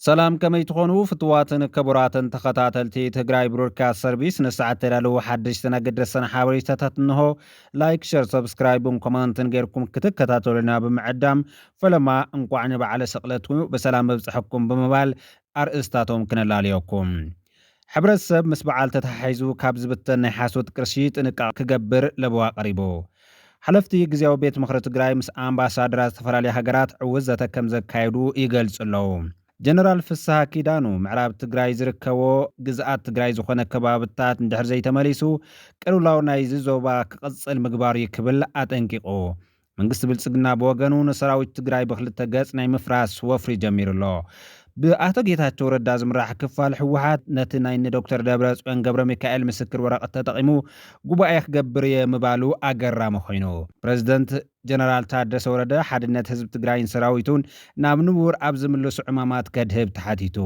ሰላም ከመይ ትኾኑ ፍትዋትን ክቡራትን ተኸታተልቲ ትግራይ ብሮድካስት ሰርቪስ ንሰዓት ተዳለዉ ሓደሽትን ኣገደሰን ሓበሬታታት እንሆ ላይክ ሸር ሰብስክራይብን ኮመንትን ጌርኩም ክትከታተሉና ብምዕዳም ፈለማ እንቋዕ ንበዓለ ስቕለቱ ብሰላም መብፅሐኩም ብምባል ኣርእስታቶም ክነላልየኩም ሕብረተሰብ ምስ በዓል ተተሓሒዙ ካብ ዝብተን ናይ ሓሶት ቅርሺ ጥንቃቐ ክገብር ለበዋ ቀሪቡ። ሓለፍቲ ግዝያዊ ቤት ምኽሪ ትግራይ ምስ ኣምባሳደራት ዝተፈላለያ ሃገራት ዕዉት ዘተ ከምዘካየዱ ይገልፁ ኣለው። ጀነራል ፍስሃ ኪዳኑ ምዕራብ ትግራይ ዝርከቦ ግዝኣት ትግራይ ዝኾነ ከባብታት እንድሕር ዘይተመሊሱ ቅልውላው ናይዚ ዞባ ክቕፅል ምግባሩ'ዩ ክብል ኣጠንቂቑ። መንግስቲ ብልፅግና ብወገኑ ንሰራዊት ትግራይ ብክልተ ገፅ ናይ ምፍራስ ወፍሪ ጀሚሩ ኣሎ። ብኣቶ ጌታቸው ረዳ ዝምራሕ ክፋል ህወሓት ነቲ ናይ እኒ ዶክተር ደብረፅዮን ገብረሚካኤል ምስክር ወረቐት ተጠቒሙ ጉባኤ ክገብር እየ ምባሉ ኣገራሚ ኮይኑ። ፕረዚደንት ጀነራል ታደሰ ወረደ ሓድነት ህዝቢ ትግራይን ሰራዊቱን ናብ ንቡር ኣብ ዝምልሱ ዕማማት ከድህብ ተሓቲቱ።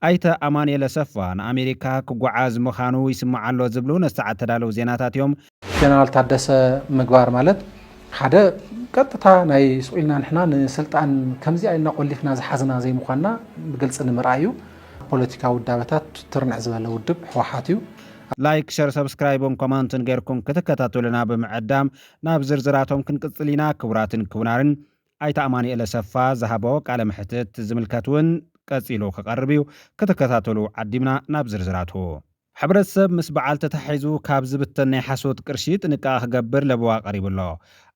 ኣይተ ኣማኑኤል ኣሰፋ ንኣሜሪካ ክጓዓዝ ምኻኑ ይስማዕ ኣሎ ዝብሉ ነቲ ሰዓት ተዳለው ዜናታት እዮም። ጀነራል ታደሰ ምግባር ማለት ሓደ ቀጥታ ናይ ስቁኢልና ንሕና ንስልጣን ከምዚኣ ኢልና ቆሊፍና ዝሓዝና ዘይምዃንና ብግልፂ ንምርኣይ እዩ። ፖለቲካዊ ውዳበታት ትርንዕ ዝበለ ውድብ ህወሓት እዩ። ላይክ ሸር ሰብስክራይብን ኮማንትን ገርኩም ክትከታተሉና ብምዕዳም ናብ ዝርዝራቶም ክንቅፅል ኢና ክቡራትን ክቡናርን ኣይተ ኣማኒኤል ኣሰፋ ዝሃቦ ቃለ መሕትት ዝምልከት ውን ቀፂሉ ክቀርብ እዩ ክትከታተሉ ዓዲምና ናብ ዝርዝራቱ ሕብረተሰብ ምስ በዓል ተተሓሒዙ ካብ ዝብተን ናይ ሓሶት ቅርሺ ጥንቃቐ ክገብር ለበዋ ቀሪቡ ኣሎ።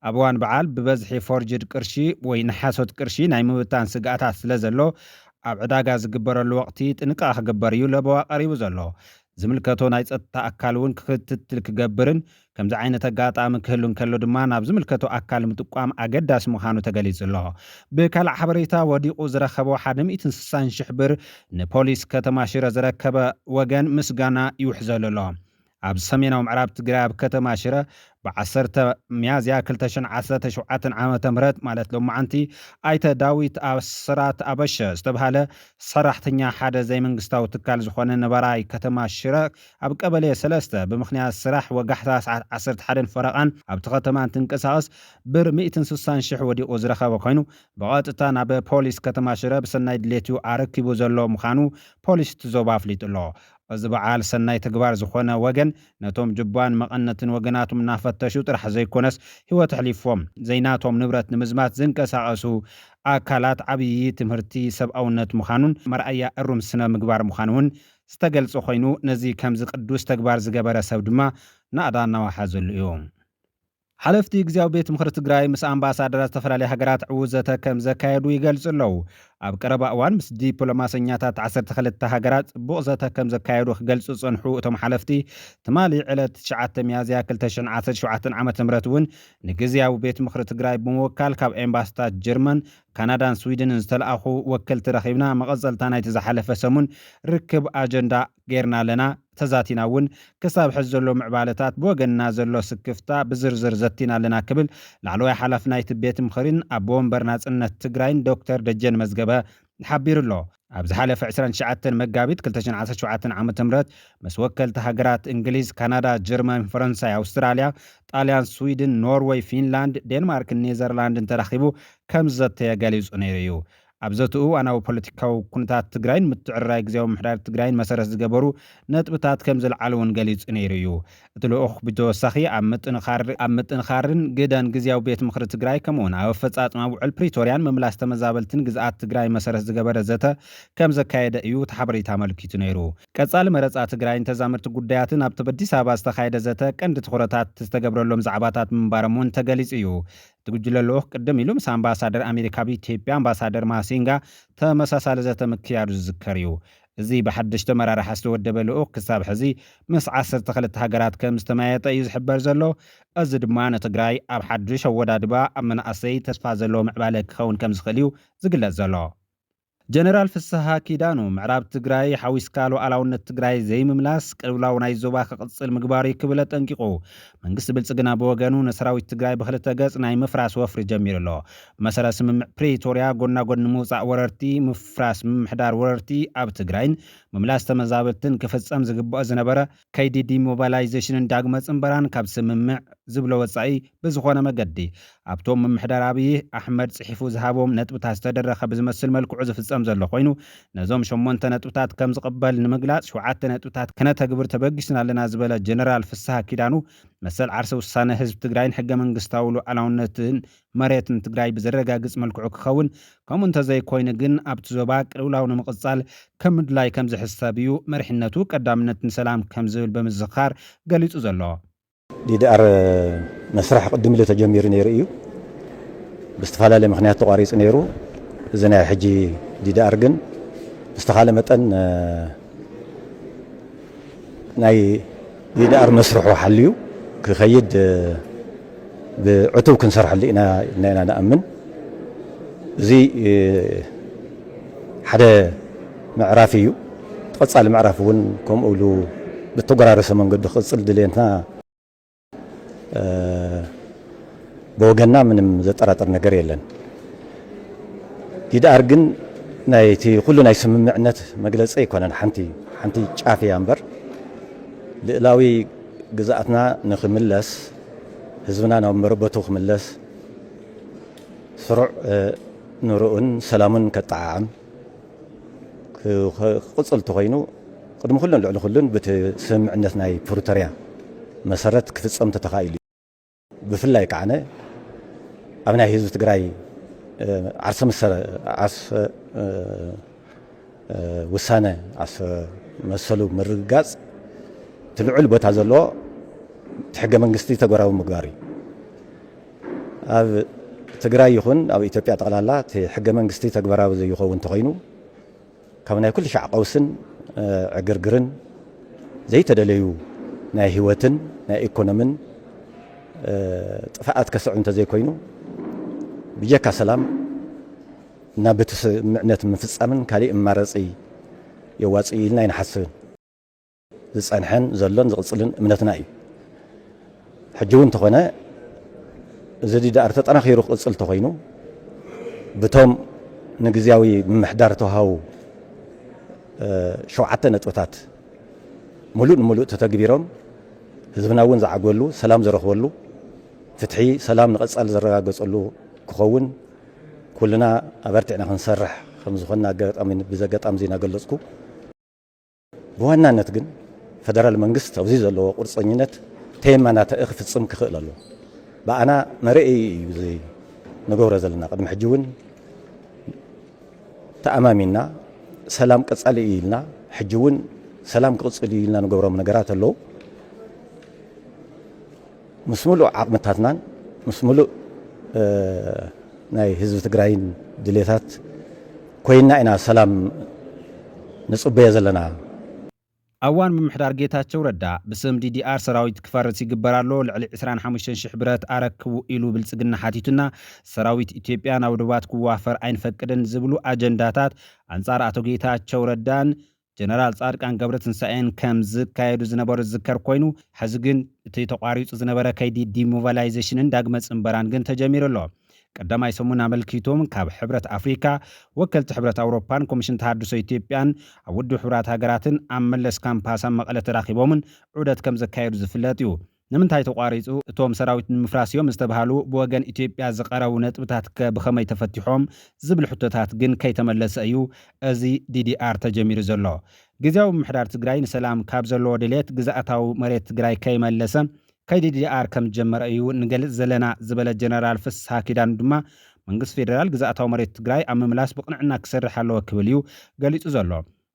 ኣብ እዋን በዓል ብበዝሒ ፎርጅድ ቅርሺ ወይ ንሓሶት ቅርሺ ናይ ምብታን ስግኣታት ስለዘሎ ኣብ ዕዳጋ ዝግበረሉ ወቕቲ ጥንቃቐ ክግበር እዩ ለበዋ ቀሪቡ ዘሎ። ዝምልከቶ ናይ ፀጥታ ኣካል እውን ክትትል ክገብርን ከምዚ ዓይነት ኣጋጣሚ ክህሉ እንከሎ ድማ ናብ ዝምልከቶ ኣካል ምጥቋም ኣገዳሲ ምዃኑ ተገሊጹ ኣሎ። ብካልእ ሓበሬታ ወዲቑ ዝረከቦ ሓደ ሚእትን ስሳን ሽሕ ብር ንፖሊስ ከተማ ሽረ ዘረከበ ወገን ምስጋና ይውሕዘሉ ኣሎ። ኣብ ሰሜናዊ ምዕራብ ትግራይ ኣብ ከተማ ሽረ ብ ዓሰርተ ሚያዝያ ክልተ ሽሕን ዓሰርተ ሸውዓተን ዓመተ ምህረት ማለት ሎማዕንቲ ኣይተ ዳዊት ኣስራት ኣበሸ ዝተብሃለ ሰራሕተኛ ሓደ ዘይመንግስታዊ ትካል ዝኾነ ነባራይ ከተማ ሽረ ኣብ ቀበሌ ሰለስተ ብምኽንያት ስራሕ ወጋሕታ ሰዓት ዓሰርተ ሓደን ፈረቓን ኣብቲ ከተማ እንትንቀሳቐስ ብር ሚእትን ስሳን ሽሕ ወዲቑ ዝረኸበ ኮይኑ ብቐጥታ ናብ ፖሊስ ከተማ ሽረ ብሰናይ ድሌት'ዩ ኣረኪቡ ዘሎ ምዃኑ ፖሊስ እቲ ዞባ ኣፍሊጡ ኣሎ። እዚ በዓል ሰናይ ተግባር ዝኾነ ወገን ነቶም ጁባን መቐነትን ወገናቶም እናፈተሹ ጥራሕ ዘይኮነስ ህይወት ኣሕሊፎም ዘይናቶም ንብረት ንምዝማት ዝንቀሳቐሱ ኣካላት ዓብዪ ትምህርቲ ሰብኣውነት ምዃኑን መርኣያ እሩም ስነ ምግባር ምዃኑ'ውን ዝተገልጸ ኮይኑ ነዚ ከምዚ ቅዱስ ተግባር ዝገበረ ሰብ ድማ ናእዳ እናወሓዘሉ እዩ። ሓለፍቲ ግዝያዊ ቤት ምኽሪ ትግራይ ምስ ኣምባሳደራት ዝተፈላለያ ሃገራት ዕዉት ዘተ ከም ዘካየዱ ይገልጹ ኣለዉ። ኣብ ቀረባ እዋን ምስ ዲፕሎማሰኛታት ዓሰርተ ክልተ ሃገራት ጽቡቕ ዘተ ከም ዘካየዱ ክገልጹ ዝጸንሑ እቶም ሓለፍቲ ትማሊ ዕለት ትሽዓተ ሚያዝያ ክልተ ሽሕን ዓሰርተ ሸውዓተን ዓመተ ምህረት እውን ንግዝያዊ ቤት ምኽሪ ትግራይ ብምውካል ካብ ኤምባሲታት ጀርመን ካናዳን ስዊድንን ዝተልኣኹ ወከልቲ ረኺብና መቐጸልታ ናይቲ ዝሓለፈ ሰሙን ርክብ ኣጀንዳ ገይርና ኣለና፣ ተዛቲና እውን። ክሳብ ሕዚ ዘሎ ምዕባለታት፣ ብወገንና ዘሎ ስክፍታ ብዝርዝር ዘቲና ኣለና ክብል ላዕለዋይ ሓላፊ ናይቲ ቤት ምኽሪን ኣቦ ወንበር ናጽነት ትግራይን ዶክተር ደጀን መዝገበ ሓቢሩ ኣሎ። ኣብ ዝሓለፈ ዕስራን ትሽዓተን መጋቢት ክልተ ሽሕን ዓሰርተ ሸውዓተን ዓመተ ምህረት ምስ ወከልቲ ሃገራት እንግሊዝ፣ ካናዳ፣ ጀርመን፣ ፈረንሳይ፣ ኣውስትራልያ፣ ጣልያን፣ ስዊድን፣ ኖርወይ፣ ፊንላንድ፣ ዴንማርክን ኔዘርላንድን ተራኺቡ ከም ዝዘተየ ገሊጹ ነይሩ እዩ። ኣብ ዘትኡ እዋናዊ ፖለቲካዊ ኩነታት ትግራይን ምትዕርራይ ግዝያዊ ምምሕዳር ትግራይን መሰረት ዝገበሩ ነጥብታት ከም ዘልዓለ'ውን ገሊጹ ነይሩ እዩ። እቲ ልኡኽ ብተወሳኺ ኣብ ምጥንኻር ኣብ ምጥንኻርን ግደን ግዝያዊ ቤት ምኽሪ ትግራይ ከምኡ ውን ኣብ ኣፈፃፅማ ውዕል ፕሪቶርያን ምምላስ ተመዛበልትን ግዝኣት ትግራይ መሰረት ዝገበረ ዘተ ከምዘካየደ እዩ ቲሓበሬታ ኣመልኪቱ ነይሩ። ቀፃሊ መረፃ ትግራይን ተዛመድቲ ጉዳያትን ኣብቲ ብ ኣዲስ ኣበባ ዝተኻየደ ዘተ ቀንዲ ትኹረታት ዝተገብረሎም ዛዕባታት ምንባሮም ውን ተገሊፁ እዩ። እቲ ጉጅለ ልኡኽ ቅድም ኢሉ ምስ ኣምባሳደር ኣሜሪካ ኣብ ኢትዮጵያ ኣምባሳደር ማሲንጋ ተመሳሳሊ ዘተ ምክያዱ ዝዝከር እዩ። እዚ ብሓደሽቲ ኣመራርሓ ዝተወደበ ልኡኽ ክሳብ ሕዚ ምስ ዓሰርተ ክልተ ሃገራት ከም ዝተመያየጠ እዩ ዝሕበር ዘሎ። እዚ ድማ ንትግራይ ኣብ ሓዱሽ ኣወዳድባ ኣብ መናእሰይ ተስፋ ዘለዎ ምዕባለ ክኸውን ከም ዝኽእል እዩ ዝግለፅ ዘሎ። ጀነራል ፍስሃ ኪዳኑ፣ ምዕራብ ትግራይ ሓዊስካ ሉኣላውነት ትግራይ ዘይምምላስ ቅልውላው ናይ ዞባ ክቕፅል ምግባር እዩ ክብል ኣጠንቂቑ። መንግስቲ ብልፅግና ብወገኑ ንሰራዊት ትግራይ ብኽልተ ገፅ ናይ ምፍራስ ወፍሪ ጀሚሩ ኣሎ። ብመሰረት ስምምዕ ፕሪቶርያ ጎና ጎኒ ምውፃእ ወረርቲ፣ ምፍራስ ምምሕዳር ወረርቲ ኣብ ትግራይን ምምላስ ተመዛበልትን ክፍፀም ዝግበኦ ዝነበረ ከይዲ ዲሞባላይዜሽንን ዳግመ ፅምበራን ካብ ስምምዕ ዝብሎ ወፃኢ ብዝኾነ መገዲ ኣብቶም ምምሕዳር ኣብዪ ኣሕመድ ፅሒፉ ዝሃቦም ነጥብታት ዝተደረኸ ብዝመስል መልክዑ ዝፍፀም ዘሎ ኮይኑ ነዞም ሸሞንተ ነጥብታት ከምዝቕበል ንምግላፅ ሸውዓተ ነጥብታት ከነተግብር ተበጊስና ኣለና ዝበለ ጀነራል ፍስሃ ኪዳኑ መሰል ዓርሰ ውሳነ ህዝቢ ትግራይን ሕገ መንግስታዊ ሉኣላውነትን መሬት ንትግራይ ብዘረጋግፅ መልክዑ ክኸውን ከምኡ እንተዘይኮይኑ ግን ኣብቲ ዞባ ቅልውላው ንምቕፃል ከም ምድላይ ከምዝሕሰብ እዩ መሪሕነቱ ቀዳምነት ንሰላም ከምዝብል ብምዝኻር ገሊፁ ዘሎ። ዲዲኣር መስርሕ ቅድም ኢሉ ተጀሚሩ ነይሩ እዩ። ብዝተፈላለየ ምክንያት ተቋሪፁ ነይሩ። እዚ ናይ ሕጂ ዲዲኣር ግን ብዝተኻለ መጠን ናይ ዲዲኣር መስርሑ ሓልዩ ክኸይድ ብዕቱብ ክንሰርሐሉ ኢና ኢልና ኢና ንኣምን። እዚ ሓደ ምዕራፍ እዩ። እቲ ቀጻሊ ምዕራፍ እውን ከምኡ ኢሉ ብተጎራረሰ መንገዱ ክቕጽል ድሌትና ብወገና ምንም ዘጠራጥር ነገር የለን ይድኣር ግን ናይቲ ኩሉ ናይ ስምምዕነት መግለፂ ኣይኮነን ሓንቲ ሓንቲ ጫፍ እያ እምበር ልእላዊ ግዝኣትና ንክምለስ ህዝብና ናብ መረበቱ ክምለስ ስሩዕ ንርኡን ሰላሙን ከጠዓዓም ክቕፅል እንተኾይኑ ቅድሚ ኩሉን ልዕሊ ኩሉን ብቲ ስምምዕነት ናይ ፕሪቶርያ መሰረት ክፍፀም ተተኻኢሉ እዩ። ብፍላይ ከዓነ ኣብ ናይ ህዝቢ ትግራይ ዓርሰ መሰረ ዓርሰ ውሳነ ዓርሰ መሰሉ ምርግጋፅ እቲ ልዑል ቦታ ዘለዎ እቲ ሕገ መንግስቲ ተግባራዊ ምግባር እዩ። ኣብ ትግራይ ይኹን ኣብ ኢትዮጵያ ጠቕላላ እቲ ሕገ መንግስቲ ተግባራዊ ዘይኸውን እንተኾይኑ ካብ ናይ ኩሉ ሻዕ ቀውስን ዕግርግርን ዘይተደለዩ ናይ ህይወትን ናይ ኢኮኖምን ጥፍኣት ከስዕብ እንተዘይኮይኑ ብጀካ ሰላም እና ብቲ ስምምዕነት ምፍጻምን ካሊእ መማረፂ የዋፅእ ኢልና ኣይንሓስብን። ዝጸንሐን ዘሎን ዝቕጽልን እምነትና እዩ። ሕጂ እውን እንተኾነ እዚ ዲዳኣር ተጠናኺሩ ክቕጽል እንተኾይኑ ብቶም ንግዝያዊ ምምሕዳር ተውሃቡ ሸውዓተ ነጥብታት ሙሉእ ንሙሉእ ተተግቢሮም ህዝብና እውን ዝዓግበሉ፣ ሰላም ዝረኽበሉ፣ ፍትሒ ሰላም ንቐጻሊ ዝረጋገጸሉ ክኸውን ኩልና ኣበርቲዕና ክንሰርሕ ከምዝኾንና ኣጋጣሚ ብዘጋጣሚ እዚ እናገለጽኩ ብዋናነት ግን ፈደራል መንግስት ኣብዚ ዘለዎ ቁርፀኝነት ተየመናተኢ ክፍፅም ክኽእል ኣሎ ብኣና መርኤይ እዩ እዚ ንገብሮ ዘለና ቅድሚ ሕጂ እውን ተኣማሚንና ሰላም ቀፃሊ እዩ ኢልና ሕጂ እውን ሰላም ክቕፅል እዩ ኢልና ንገብሮም ነገራት ኣለዉ ምስ ሙሉእ ዓቕምታትናን ምስ ሙሉእ ናይ ህዝቢ ትግራይን ድሌታት ኮይንና ኢና ሰላም ንፅበዮ ዘለና። ኣብ እዋን ምምሕዳር ጌታቸው ረዳ ብስም ዲዲኣር ሰራዊት ክፈርስ ይግበር ኣሎ፣ ልዕሊ ዕስራን ሓሙሽተን ሽሕ ብረት ኣረክቡ ኢሉ ብልፅግና ሓቲቱና፣ ሰራዊት ኢትዮጵያ ናብ ዶባት ክዋፈር ኣይንፈቅድን ዝብሉ ኣጀንዳታት ኣንፃር ኣቶ ጌታቸው ረዳን ጀነራል ፃድቃን ገብረትንሳኤን ከም ዝካየዱ ዝነበሩ ዝዝከር ኮይኑ ሐዚ ግን እቲ ተቋሪፁ ዝነበረ ከይዲ ዲሞቫላይዜሽንን ዳግመ ፅንበራን ግን ተጀሚሩ ኣሎ። ቀዳማይ ሰሙን ኣመልኪቱም ካብ ሕብረት ኣፍሪካ፣ ወከልቲ ሕብረት ኣውሮፓን ኮሚሽን ተሃድሶ ኢትዮጵያን ኣብ ውድብ ሕቡራት ሃገራትን ኣብ መለስ ካምፓስ ኣብ መቐለ ተራኺቦምን ዑደት ከም ዘካየዱ ዝፍለጥ እዩ። ንምንታይ ተቋሪፁ? እቶም ሰራዊት ንምፍራስ እዮም ዝተብሃሉ ብወገን ኢትዮጵያ ዝቐረቡ ነጥብታት ከ ብኸመይ ተፈቲሖም? ዝብል ሕቶታት ግን ከይተመለሰ እዩ እዚ ዲዲኣር ተጀሚሩ ዘሎ። ግዝያዊ ምምሕዳር ትግራይ ንሰላም ካብ ዘለዎ ድሌት ግዝኣታዊ መሬት ትግራይ ከይመለሰ ከይዲ ዲዲኣር ከም ዝጀመረ እዩ ንገልፅ ዘለና ዝበለ ጀነራል ፍስሃ ኪዳኑ ድማ መንግስቲ ፌዴራል ግዝኣታዊ መሬት ትግራይ ኣብ ምምላስ ብቕንዕና ክሰርሕ ኣለዎ ክብል እዩ ገሊፁ ዘሎ።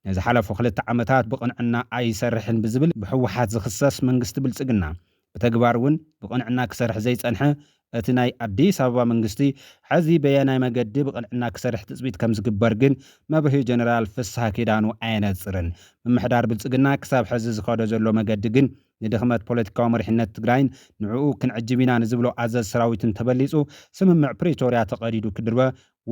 ንዝሓለፉ ክልተ ዓመታት ብቕንዕና ኣይሰርሕን ብዝብል ብህወሓት ዝኽሰስ መንግስቲ ብልፅግና ብተግባር እውን ብቕንዕና ክሰርሕ ዘይፀንሐ እቲ ናይ ኣዲስ ኣበባ መንግስቲ ሐዚ በየናይ መገዲ ብቕንዕና ክሰርሕ ትፅቢት ከምዝግበር ግን መብርሂ ጀነራል ፍስሃ ኪዳኑ ኣየነፅርን ምምሕዳር ብልፅግና ክሳብ ሐዚ ዝኸዶ ዘሎ መገዲ ግን ንድኽመት ፖለቲካዊ መሪሕነት ትግራይን ንዕኡ ክንዕጅብ ኢና ንዝብሎ ኣዘዝ ሰራዊትን ተበሊፁ ስምምዕ ፕሪቶርያ ተቐዲዱ ክድርበ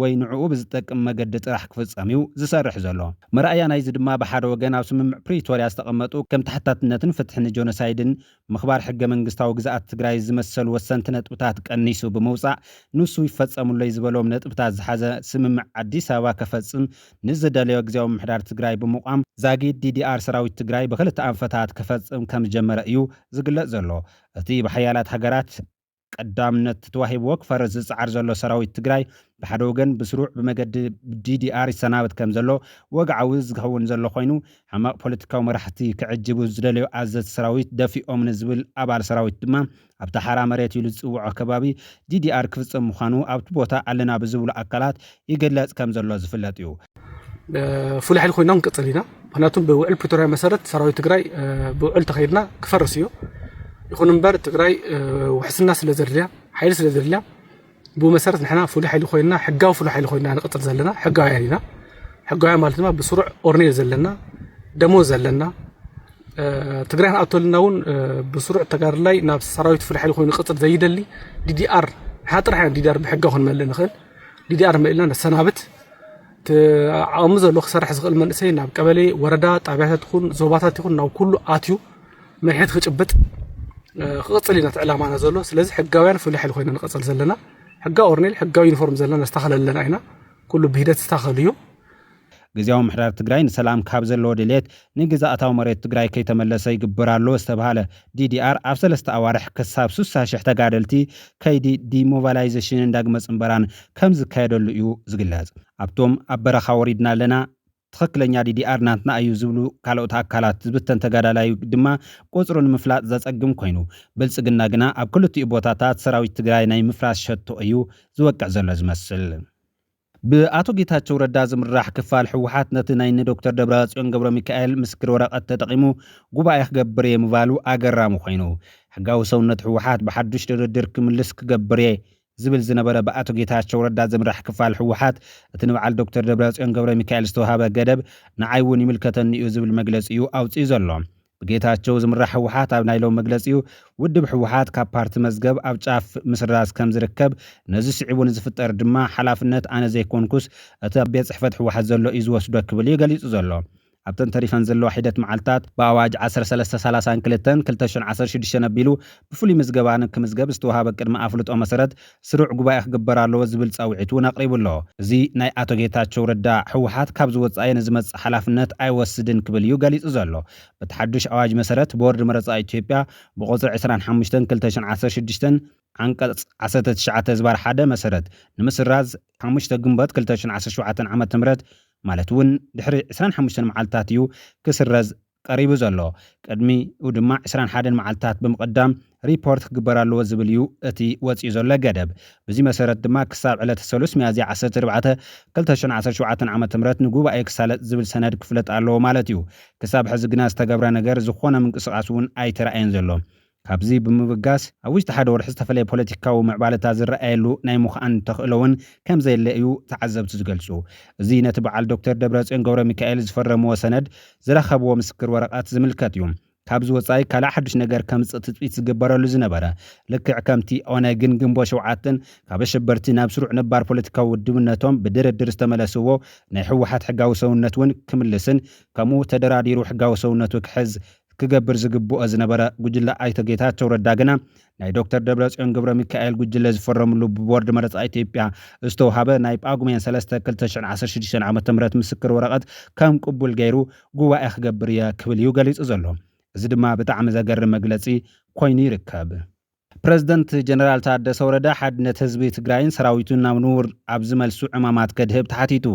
ወይ ንዕኡ ብዝጠቅም መገዲ ጥራሕ ክፍጸም'ዩ ዝሰርሕ ዘሎ። መርኣያ ናይዚ ድማ ብሓደ ወገን ኣብ ስምምዕ ፕሪቶርያ ዝተቐመጡ ከም ተሓታትነትን ፍትሒ ንጆኖሳይድን ምኽባር ሕገ መንግስታዊ ግዝኣት ትግራይ ዝመሰሉ ወሰንቲ ነጥብታት ቀኒሱ ብምውጻእ ንሱ ይፈጸሙለይ ዝበሎም ነጥብታት ዝሓዘ ስምምዕ ኣዲስ ኣበባ ከፈጽም ንዝደለዮ ግዝያዊ ምምሕዳር ትግራይ ብምቛም ዛጊድ ዲዲኣር ሰራዊት ትግራይ ብኽልተ ኣንፈታት ከፈጽም ከምዝጀመረ እዩ ዝግለጽ ዘሎ። እቲ ብሓያላት ሃገራት። ቀዳምነት ተዋሂብዎ ክፈርስ ዝጸዓር ዘሎ ሰራዊት ትግራይ ብሓደ ወገን ብስሩዕ ብመገዲ ዲዲኣር ይሰናበት ከም ዘሎ ወግዓዊ ዝኸውን ዘሎ ኮይኑ ሕማቕ ፖለቲካዊ መራሕቲ ክዕጅቡ ዝደለዩ ኣዘዝቲ ሰራዊት ደፊኦም ንዝብል ኣባል ሰራዊት ድማ ኣብቲ ሓራ መሬት ኢሉ ዝጽውዖ ከባቢ ዲዲኣር ክፍጸም ምዃኑ ኣብቲ ቦታ ኣለና ብዝብሉ ኣካላት ይግለጽ ከም ዘሎ ዝፍለጥ እዩ። ፍሉይ ሓይሊ ኮይና ክንቅፅል ኢና። ምክንያቱም ብውዕል ፕሪቶሪያ መሰረት ሰራዊት ትግራይ ብውዕል ተኸይድና ክፈርስ እዩ። ይኹን እምበር ትግራይ ውሕስና ስለ ዘድልያ ሓይሊ ስለ ዘድልያ ብኡ መሰረት ንሕና ፍሉይ ሓይሊ ኮይና ሕጋዊ ፍሉይ ሓይሊ ኮይና ንቅፅል ዘለና ሕጋውያን ኢና። ሕጋውያን ማለት ድማ ብስሩዕ ኦርኔል ዘለና ደሞዝ ዘለና ትግራይ ንኣቶልና እውን ብስሩዕ ተጋርላይ ናብ ሰራዊት ፍሉይ ሓይሊ ኮይኑ ቅፅል ዘይደሊ ዲዲኣር ንሓ ጥራሕ ኢና ዲዲኣር ብሕጋ ክንመልእ ንኽእል ዲዲኣር መሊእና ነሰናብት እቲ ዓቕሚ ዘለዎ ክሰርሕ ዝኽእል መንእሰይ ናብ ቀበሌ ወረዳ ጣብያታት ይኹን ዞባታት ይኹን ናብ ኩሉ ኣትዩ መድሕት ክጭብጥ ክቕፅል ኢና እቲ ዕላማና ዘሎ ስለዚ ሕጋውያን ፍሉይ ሓይሊ ኮይና ንቐፅል ዘለና ሕጋዊ ኦርኔል ሕጋዊ ዩኒፎርም ዘለና ነስተኻኸል ኣለና ኢና ኩሉ ብሂደት ዝስተኻኸል እዩ ግዝያዊ ምሕዳር ትግራይ ንሰላም ካብ ዘለዎ ድልየት ንግዝኣታዊ መሬት ትግራይ ከይተመለሰ ይግበር ኣሎ ዝተብሃለ ዲዲኣር ኣብ ሰለስተ ኣዋርሕ ክሳብ ስሳ ሽሕ ተጋደልቲ ከይዲ ዲሞባላይዘሽንን ዳግመ ፅምበራን ከምዝካየደሉ እዩ ዝግለፅ። ኣብቶም ኣብ በረኻ ወሪድና ኣለና፣ ትኽክለኛ ዲዲኣር ናትና እዩ ዝብሉ ካልኦት ኣካላት ዝብተን ተጋዳላይ ድማ ቁፅሩ ንምፍላጥ ዘፀግም ኮይኑ ብልፅግና ግና ኣብ ክልቲኡ ቦታታት ሰራዊት ትግራይ ናይ ምፍራስ ሸቶ እዩ ዝወቅዕ ዘሎ ዝመስል። ብኣቶ ጌታቸው ረዳ ዝምራሕ ክፋል ህወሓት ነቲ ናይ እኒ ዶክተር ደብረፅዮን ገብረሚካኤል ምስክር ወረቐት ተጠቒሙ ጉባኤ ክገብር እየ ምባሉ ኣገራሚ ኮይኑ። ሕጋዊ ሰውነት ህወሓት ብሓዱሽ ድርድር ክምልስ ክገብር እየ ዝብል ዝነበረ ብኣቶ ጌታቸው ረዳ ዝምራሕ ክፋል ህወሓት እቲ ንበዓል ዶክተር ደብረፅዮን ገብረሚካኤል ዝተውሃበ ገደብ ንዓይ እውን ይምልከተኒ እዩ ዝብል መግለፂ እዩ ኣውፂኡ ዘሎ። ብጌታቸው ዝምራሕ ህወሓት ኣብ ናይ ሎሚ መግለፂኡ ውድብ ህወሓት ካብ ፓርቲ መዝገብ ኣብ ጫፍ ምስራዝ ከምዝርከብ ነዚ ስዒቡ ንዝፍጠር ድማ ሓላፍነት ኣነ ዘይኮንኩስ እቲ ኣብ ቤት ፅሕፈት ህወሓት ዘሎ እዩ ዝወስዶ ክብል እዩ ገሊፁ ዘሎ። ኣብተን ተሪፈን ዘለዋ ሒደት መዓልትታት፣ ብኣዋጅ ዓሰርተ ሰለስተ ሳላሳን ክልተን ክልተ ሽሕን ዓሰርተ ሽዱሽተን ኣቢሉ ብፍሉይ ምዝገባ ንክምዝገብ ዝተውሃበ ቅድመ ኣፍልጦ መሰረት ስሩዕ ጉባኤ ክግበር ኣለዎ ዝብል ፃውዒት እውን ኣቕሪቡ ኣሎ። እዚ ናይ ኣቶ ጌታቸው ረዳ ህወሓት ካብዚ ወፃኢ ንዝመፅእ ሓላፍነት ኣይወስድን ክብል እዩ ገሊፁ ዘሎ። በቲ ሓዱሽ ኣዋጅ መሰረት ቦርድ መረፃ ኢትዮጵያ ብቑፅሪ ዕስራን ሓሙሽተን ክልተ ሽሕን ዓሰርተ ሽዱሽተን ዓንቀፅ ዓሰርተ ትሽዓተ ህዝባር ሓደ መሰረት ንምስራዝ ሓሙሽተ ግንቦት ክልተ ሽሕን ዓሰርተ ሸውዓተን ዓመተ ምህረት ማለት እውን ድሕሪ ዕስራን ሓሙሽተን መዓልትታት እዩ ክስረዝ ቀሪቡ ዘሎ ቅድሚኡ ድማ ዕስራን ሓደን መዓልትታት ብምቕዳም ሪፖርት ክግበር ኣለዎ ዝብል እዩ እቲ ወጺኡ ዘሎ ገደብ። ብዚ መሰረት ድማ ክሳብ ዕለተ ሰሉስ ሚያዝያ ዓሰርተ ኣርባዕተ ክልተ ሽሕን ዓሰርተ ሸውዓተን ዓመተ ምህረት ንጉባኤ ክሳለጥ ዝብል ሰነድ ክፍለጥ ኣለዎ ማለት እዩ። ክሳብ ሕዚ ግና ዝተገብረ ነገር፣ ዝኾነ ምንቅስቓስ እውን ኣይተራእየን ዘሎ። ካብዚ ብምብጋስ፣ ኣብ ውሽጢ ሓደ ወርሒ ዝተፈለየ ፖለቲካዊ ምዕባለታት ዝረኣየሉ ናይ ምዃን ተኽእሎ እውን ከምዘየለ እዩ ተዓዘብቲ ዝገልፁ። እዚ ነቲ በዓል ዶክተር ደብረፅዮን ገብረሚካኤል ዝፈረምዎ ሰነድ ዝረኸብዎ ምስክር ወረቐት ዝምልከት እዩ። ካብዚ ወፃኢ ካልእ ሓዱሽ ነገር ከምፅእ ትፅቢት ዝግበረሉ ዝነበረ፣ ልክዕ ከምቲ ኦነግን ግንቦት ሸውዓተን ካብ ኣሸበርቲ ናብ ስሩዕ ነባር ፖለቲካዊ ውድብነቶም ብድርድር ዝተመለስዎ ናይ ህወሓት ሕጋዊ ሰውነት እውን ክምልስን ከምኡ ተደራዲሩ ሕጋዊ ሰውነቱ ክሕዝ ክገብር ዝግብኦ ዝነበረ ጉጅለ ኣይተ ጌታቸው ረዳ ግና ናይ ዶክተር ደብረፅዮን ገብረሚካኤል ጉጅለ ዝፈረምሉ ብቦርድ መረፃ ኢትዮጵያ ዝተውሃበ ናይ ጳጉሜን ሰለስተ ክልተ ሽሕን ዓሰርተ ሽዱሽተን ዓመተ ምህረት ምስክር ወረቐት ከም ቅቡል ገይሩ ጉባኤ ክገብር እየ ክብል እዩ ገሊፁ ዘሎ። እዚ ድማ ብጣዕሚ ዘገርም መግለፂ ኮይኑ ይርከብ። ፕረዚደንት ጀነራል ታደሰ ወረደ ሓድነት ህዝቢ ትግራይን ሰራዊቱን ናብ ንቡር ኣብ ዝመልሱ ዕማማት ከድህብ ተሓቲቱ።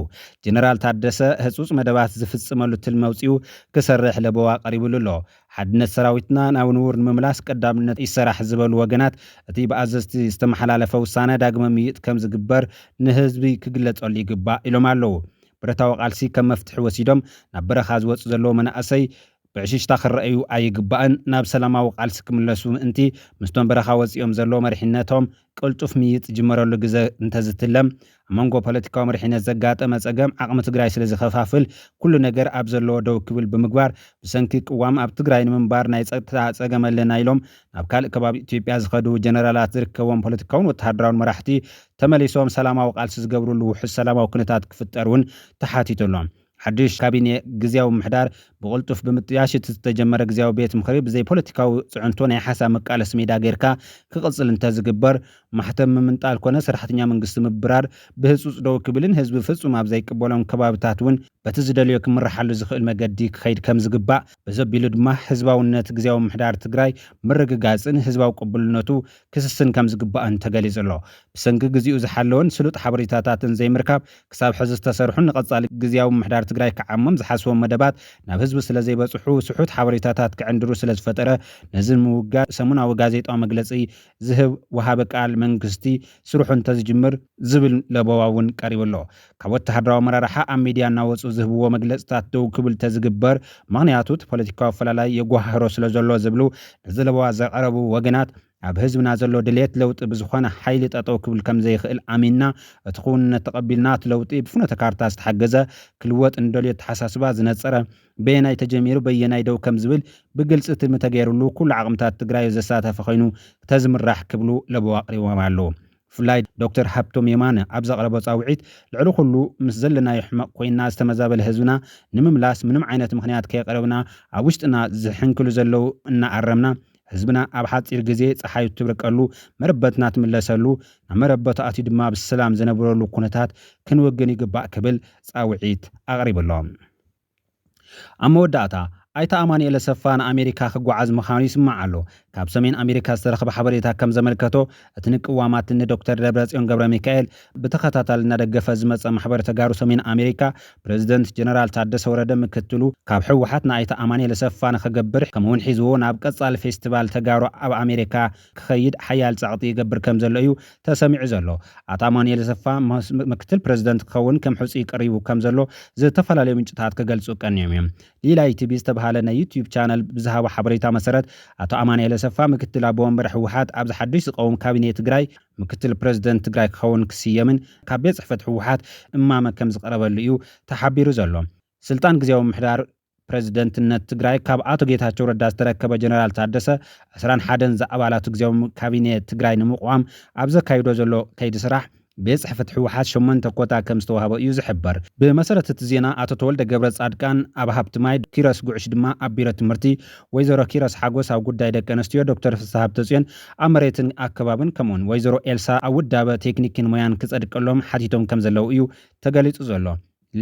ጀነራል ታደሰ ህፁፅ መደባት ዝፍፅመሉ ትልሚ ኣውፂኡ ክሰርሕ ለበዋ ቀሪብሉ ኣሎ። ሓድነት ሰራዊትና ናብ ንቡር ንምምላስ ቀዳምነት ይሰራሕ ዝበሉ ወገናት እቲ ብኣዘዝቲ ዝተመሓላለፈ ውሳነ ዳግመ ምይይጥ ከምዝግበር ንህዝቢ ክግለፀሉ ይግባእ ኢሎም ኣለው። ብረታዊ ቃልሲ ከም መፍትሒ ወሲዶም ናብ በረኻ ዝወፁ ዘለው መናእሰይ ብዕሽሽታ ክረኣዩ ኣይግባእን፣ ናብ ሰላማዊ ቃልሲ ክምለሱ ምእንቲ፣ ምስቶም በረኻ ወጺኦም ዘለዉ መሪሕነቶም ቅልጡፍ ምይይጥ ዝጅመረሉ ግዘ እንተዝትለም፣ ኣብ መንጎ ፖለቲካዊ መሪሕነት ዘጋጠመ ጸገም ዓቕሚ ትግራይ ስለዝኸፋፍል ኩሉ ነገር ኣብ ዘለዎ ደው ክብል ብምግባር ብሰንኪ ቅዋም ኣብ ትግራይ ንምንባር ናይ ጸጥታ ጸገም ኣለና ኢሎም ናብ ካልእ ከባቢ ኢትዮጵያ ዝኸዱ ጀነራላት ዝርከብዎም ፖለቲካውን ወተሃደራውን መራሕቲ ተመሊሶም ሰላማዊ ቃልሲ ዝገብርሉ ውሑስ ሰላማዊ ኩነታት ክፍጠር እውን ተሓቲቱ ኣሎ። ሓዱሽ ካቢኔ ግዝያዊ ምምሕዳር ብቕልጡፍ ብምጥያሽ እቲ ዝተጀመረ ግዝያዊ ቤት ምኽሪ ብዘይ ፖለቲካዊ ፅዕንቶ ናይ ሓሳብ መቃለሲ ሜዳ ገይርካ ክቕፅል እንተዝግበር ማሕተም ምምንጣል ኮነ ሰራሕተኛ መንግስቲ ምብራር ብህፁፅ ደው ክብልን ህዝቢ ፍፁም ኣብ ዘይቅበሎም ከባብታት እውን በቲ ዝደልዮ ክምረሓሉ ዝኽእል መገዲ ክኸይድ ከምዝግባእ በዘቢሉ ድማ ህዝባውነት ግዝያዊ ምምሕዳር ትግራይ ምርግጋፅን ህዝባዊ ቅቡልነቱ ክስስን ከምዝግባእን ተገሊፁ'ሎ። ብሰንኪ ግዚኡ ዝሓለወን ስሉጥ ሓበሬታታትን ዘይምርካብ ክሳብ ሕዚ ዝተሰርሑን ንቐፃሊ ግዝያዊ ምምሕዳር ትግራይ ክዓሞም ዝሓስቦም መደባት ናብ ህዝቢ ስለዘይበፅሑ ስሑት ሓበሬታታት ክዕንድሩ ስለዝፈጠረ ነዚ ንምውጋድ ሰሙናዊ ጋዜጣዊ መግለፂ ዝህብ ወሃቢ ቃል መንግስቲ ስርሑ እንተዝጅምር ዝብል ለበዋ እውን ቀሪቡ'ሎ። ካብ ወተሃደራዊ ኣመራርሓ ኣብ ሚድያ እናወፁ ዝህብዎ መግለፅታት ደው ክብል ተዝግበር ምኽንያቱ እቲ ፖለቲካዊ ኣፈላላይ የጓሃህሮ ስለዘሎ ዝብሉ ነዚ ለበዋ ዘቕረቡ ወገናት ኣብ ህዝብና ዘሎ ድልየት ለውጢ ብዝኾነ ሓይሊ ጠጠው ክብል ከምዘይኽእል ኣሚንና እቲ ክውንነት ተቐቢልና እቲ ለውጢ ብፍኖተ ካርታ ዝተሓገዘ ክልወጥ ንደልዮ ኣተሓሳስባ ዝነፀረ በየናይ ተጀሚሩ በየናይ ደው ከምዝብል ብግልፂ ትልሚ ተገይርሉ ኩሉ ዓቕምታት ትግራይ ዘሳተፈ ኾይኑ ተዝምራሕ ክብሉ ለበዋ ኣቕሪቦም ኣለው። ብፍላይ ዶክተር ሃብቶም የማነ ኣብ ዘቕረቦ ጻውዒት፣ ልዕሊ ኩሉ ምስ ዘለናዮ ሕመቕ ኮይንና ዝተመዛበለ ህዝብና ንምምላስ ምንም ዓይነት ምኽንያት ከየቕረብና ኣብ ውሽጥና ዝሕንክሉ ዘለዉ እናኣረምና ህዝብና ኣብ ሓጺር ግዜ ጸሓይ እትብርቀሉ መረበትና ትምለሰሉ ናብ መረበቱ ኣትዩ ድማ ብሰላም ዝነብረሉ ኩነታት ክንውግን ይግባእ ክብል ጻውዒት ኣቕሪቡ'ሎ። ኣብ መወዳእታ፣ ኣይተ ኣማኑኤል ኣሰፋ ንኣሜሪካ ክጓዓዝ ምኻኑ ይስማዕ ኣሎ። ካብ ሰሜን ኣሜሪካ ዝተረኽበ ሓበሬታ ከም ዘመልከቶ፣ እቲ ንቅዋማት ንዶክተር ደብረጽዮን ገብረሚካኤል ብተኸታታሊ እናደገፈ ዝመጸ ማሕበር ተጋሩ ሰሜን ኣሜሪካ፣ ፕረዚደንት ጀነራል ታደሰ ወረደ ምክትሉ ካብ ህወሓት ንኣይተ ኣማኑኤል ኣሰፋ ንኽገብር ከምኡ'ውን ሒዝዎ ናብ ቀጻሊ ፌስቲቫል ተጋሩ ኣብ ኣሜሪካ ክኸይድ ሓያል ጸቕጢ ይገብር ከም ዘሎ እዩ ተሰሚዑ ዘሎ። ኣቶ ኣማኑኤል ኣሰፋ ምክትል ፕረዚደንት ክኸውን ከም ሕጹይ ቀሪቡ ከም ዘሎ ዝተፈላለዩ ምንጭታት ክገልጹ ቀንዮም እዮም። ሊላይ ቲቪ ዝተብሃለ ናይ ዩትዩብ ቻነል ብዝሃቦ ሓበሬታ መሰረት ኣቶ ኣማኑኤል ኣሰፋ ምክትል ኣቦ ወንበር ህወሓት ኣብዚ ሓዱሽ ዝቐውም ካቢኔ ትግራይ ምክትል ፕረዚደንት ትግራይ ክኸውን ክስየምን ካብ ቤት ጽሕፈት ህወሓት እማመ ከም ዝቐረበሉ እዩ ተሓቢሩ ዘሎ። ስልጣን ግዝያዊ ምምሕዳር ፕረዚደንትነት ትግራይ ካብ ኣቶ ጌታቸው ረዳ ዝተረከበ ጀነራል ታደሰ ዕስራን ሓደን ዝኣባላቱ ግዝያዊ ካቢኔ ትግራይ ንምቕዋም ኣብ ዘካይዶ ዘሎ ከይዲ ስራሕ ቤት ፅሕፍት ህወሓት ሸሞንተ ኮታ ከም ዝተዋህቦ እዩ ዝሕበር። ብመሰረት እቲ ዜና ኣቶ ተወልደ ገብረፃድቃን ኣብ ሃብቲ ማይ፣ ኪሮስ ጉዕሽ ድማ ኣብ ቢሮ ትምህርቲ፣ ወይዘሮ ኪሮስ ሓጎስ ኣብ ጉዳይ ደቂ ኣንስትዮ፣ ዶክተር ፍስሃ ሃብተፅዮን ኣብ መሬትን ኣከባብን ከምኡውን ወይዘሮ ኤልሳ ኣብ ውዳበ ቴክኒክን ሞያን ክፀድቀሎም ሓቲቶም ከም ዘለዉ እዩ ተገሊፁ ዘሎ።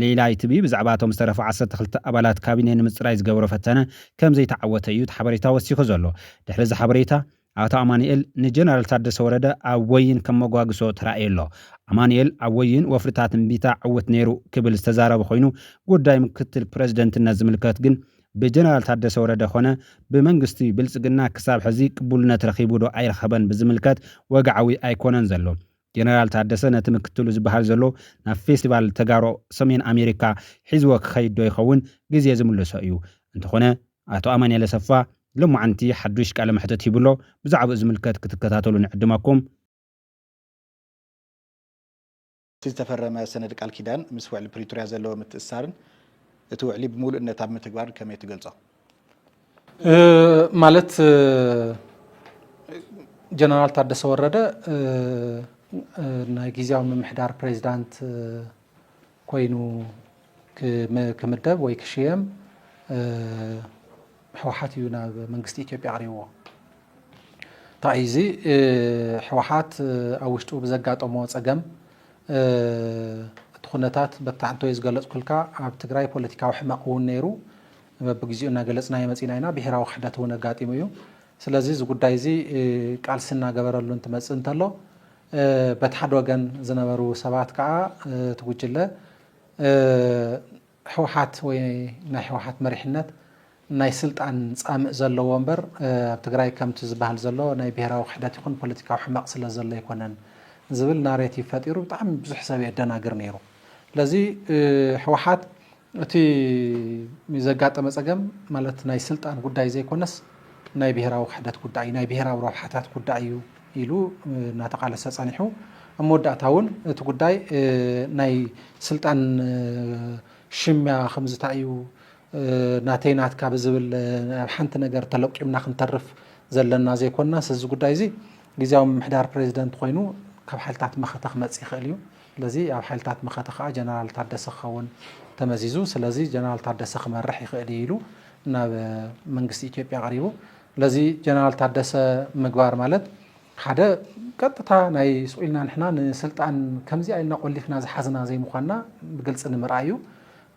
ሌላይ ቲቪ ብዛዕባ እቶም ዝተረፉ ዓሰርተ ክልተ ኣባላት ካቢኔ ንምጽራይ ዝገበሮ ፈተነ ከም ዘይተዓወተ እዩ እቲ ሓበሬታ ወሲኹ ዘሎ። ድሕሪ እዚ ሓበሬታ፣ ኣቶ ኣማኑኤል ንጀነራል ታደሰ ወረደ ኣብ ወይን ከም መጓግሶ ተራእዩ ኣሎ። ኣማኑኤል ኣብ ወይን ወፍርታት እምቢታ ዕውት ነይሩ ክብል ዝተዛረበ ኮይኑ፣ ጉዳይ ምክትል ፕረዚደንትነት ዝምልከት ግን ብጀነራል ታደሰ ወረደ ኮነ ብመንግስቲ ብልጽግና ክሳብ ሕዚ ቅቡልነት ረኺቡ'ዶ ኣይረኸበን ብዝምልከት ወግዓዊ ኣይኮነን ዘሎ። ጀነራል ታደሰ ነቲ ምክትሉ ዝበሃል ዘሎ ናብ ፌስቲቫል ተጋሩ ሰሜን ኣሜሪካ ሒዝዎ ክኸይድ ዶ ይኸውን? ግዜ ዝምልሶ እዩ። እንተኾነ ኣቶ ኣማኒኤል ኣሰፋ ሎማዕንቲ ሓዱሽ ቃለ መሕትት ሂቡ ኣሎ። ብዛዕብኡ ዝምልከት ክትከታተሉ ንዕድመኩም። እቲ ዝተፈረመ ሰነድ ቃል ኪዳን ምስ ውዕሊ ፕሪቶርያ ዘለዎ ምትእስሳርን እቲ ውዕሊ ብሙሉእነት ኣብ ምትግባርን ከመይ ትገልፆ? ማለት ጀነራል ታደሰ ወረደ ናይ ግዜያዊ ምምሕዳር ፕሬዚዳንት ኮይኑ ክምደብ ወይ ክሽየም ህወሓት እዩ ናብ መንግስቲ ኢትዮጵያ ኣቕሪብዎ። እንታይ እዩ እዚ ህወሓት ኣብ ውሽጡ ብዘጋጠሞ ፀገም እቲ ኩነታት በታዕንቶ እዩ ዝገለፅኩልካ ኣብ ትግራይ ፖለቲካዊ ሕመቕ እውን ነይሩ። በብግዚኡ እናገለፅናዮ መፂእና ኢና። ብሄራዊ ክሕደት እውን ኣጋጢሙ እዩ። ስለዚ እዚ ጉዳይ እዚ ቃልሲ እናገበረሉ እንትመፅእ እንተሎ በቲ ሓደ ወገን ዝነበሩ ሰባት ከዓ እቲ ጉጅለ ህወሓት ወይ ናይ ህወሓት መሪሕነት ናይ ስልጣን ፃምእ ዘለዎ እምበር ኣብ ትግራይ ከምቲ ዝበሃል ዘሎ ናይ ብሄራዊ ክሕደት ይኹን ፖለቲካዊ ሕመቕ ስለ ዘሎ ኣይኮነን ዝብል ናሬቲቭ ፈጢሩ ብጣዕሚ ብዙሕ ሰብ የደናግር ነይሩ። ስለዚ ህወሓት እቲ ዘጋጠመ ፀገም ማለት ናይ ስልጣን ጉዳይ ዘይኮነስ ናይ ብሄራዊ ክሕደት ጉዳይ ናይ ብሄራዊ ረብሓታት ጉዳይ እዩ ኢሉ እናተቃለሰ ፀኒሑ ኣብ መወዳእታ እውን እቲ ጉዳይ ናይ ስልጣን ሽሚያ ከምዝታ እዩ ናተይ ናትካ ብዝብል ኣብ ሓንቲ ነገር ተለቂምና ክንተርፍ ዘለና ዘይኮናስ እዚ ጉዳይ እዚ ግዜያዊ ምምሕዳር ፕሬዚደንት ኮይኑ ካብ ሓይልታት መኸተ ክመፅእ ይኽእል እዩ ስለዚ ኣብ ሓይልታት መኸተ ከኣ ጀነራል ታደሰ ክኸውን ተመዚዙ። ስለዚ ጀነራል ታደሰ ክመርሕ ይኽእል እዩ ኢሉ ናብ መንግስቲ ኢትዮጵያ ኣቕሪቡ። ስለዚ ጀነራል ታደሰ ምግባር ማለት ሓደ ቀጥታ ናይ ስቑኢልና ንሕና ንስልጣን ከምዚኣ ኢልና ቆሊፍና ዝሓዝና ዘይምዃንና ብግልፂ ንምርኣይ እዩ።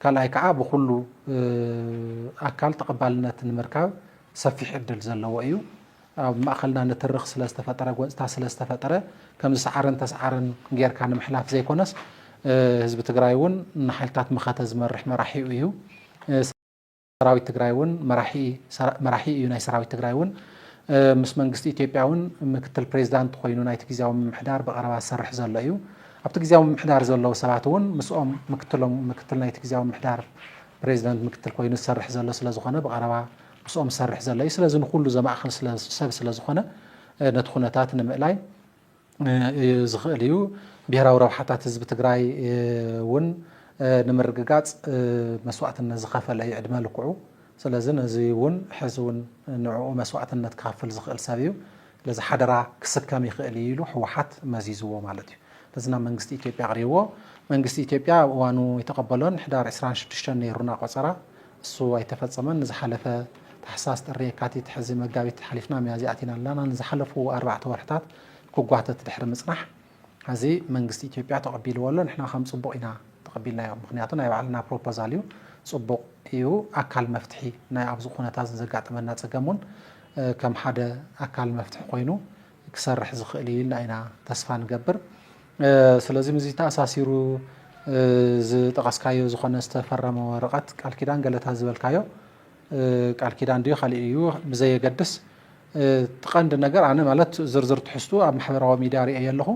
ካልኣይ ከዓ ብኹሉ ኣካል ተቐባልነት ንምርካብ ሰፊሕ ዕድል ዘለዎ እዩ። ኣብ ማእኸልና ንትርኽ ስለ ዝተፈጠረ፣ ጎንፅታት ስለ ዝተፈጠረ ከምዚ ሰዓረን ተስዓረን ገይርካ ንምሕላፍ ዘይኮነስ ህዝቢ ትግራይ እውን ንሓይልታት መኸተ ዝመርሕ መራሒኡ እዩ። ሰራዊት ትግራይ እውን መራሒ እዩ ናይ ሰራዊት ትግራይ እውን ምስ መንግስቲ ኢትዮጵያ እውን ምክትል ፕሬዚዳንት ኮይኑ ናይቲ ግዜያዊ ምምሕዳር ብቐረባ ዝሰርሕ ዘሎ እዩ። ኣብቲ ግዜያዊ ምምሕዳር ዘለዉ ሰባት እውን ምስኦም ምክትሎም ምክትል ናይቲ ግዜያዊ ምምሕዳር ፕሬዚደንት ምክትል ኮይኑ ዝሰርሕ ዘሎ ስለ ዝኾነ ብቐረባ ምስኦም ዝሰርሕ ዘሎ እዩ። ስለዚ ንኹሉ ዘማእኽል ስለ ሰብ ስለ ዝኾነ ነቲ ኩነታት ንምእላይ ዝኽእል እዩ። ብሄራዊ ረብሓታት ህዝቢ ትግራይ እውን ንምርግጋፅ መስዋእትነት ዝኸፈለ እዩ ዕድመ ልክዑ። ስለዚ ነዚ እውን ሕዚ እውን ንዕኡ መስዋእትነት ክኸፍል ዝኽእል ሰብ እዩ። ስለዚ ሓደራ ክስከም ይኽእል እዩ ኢሉ ህወሓት መዚዝዎ ማለት እዩ። ስለዚ ናብ መንግስቲ ኢትዮጵያ ኣቕሪብዎ። መንግስቲ ኢትዮጵያ ኣብ እዋኑ ኣይተቐበሎን። ሕዳር ዕስራን ሽዱሽተን ነይሩና ቆፀራ። እሱ ኣይተፈጸመን ንዝሓለፈ ታሕሳስ ጥሪ የካቲት ሕዚ መጋቢት ሓሊፍና ሚያዝያ ኣቲና ኣለና ንዝሓለፉ ኣርባዕተ ወርሕታት ክጓተት ድሕሪ ምጽናሕ ሕዚ መንግስቲ ኢትዮጵያ ተቐቢልዎ ኣሎ ንሕና ከም ጽቡቕ ኢና ተቐቢልናዮ ምኽንያቱ ናይ ባዕልና ፕሮፖዛል እዩ ጽቡቕ እዩ ኣካል መፍትሒ ናይ ኣብዚ ኩነታት ዘጋጠመና ጸገም እውን ከም ሓደ ኣካል መፍትሒ ኮይኑ ክሰርሕ ዝኽእል እዩ ኢልና ኢና ተስፋ ንገብር። ስለዚ ምስዚ ተኣሳሲሩ ዝጠቐስካዮ ዝኾነ ዝተፈረመ ወረቐት ቃል ኪዳን ገለታ ዝበልካዮ ቃል ኪዳን ድዩ ካልእ እዩ ብዘየገድስ እቲ ቀንዲ ነገር ኣነ ማለት ዝርዝር ትሕዝቱ ኣብ ማሕበራዊ ሚድያ ርእየ ኣለኹ።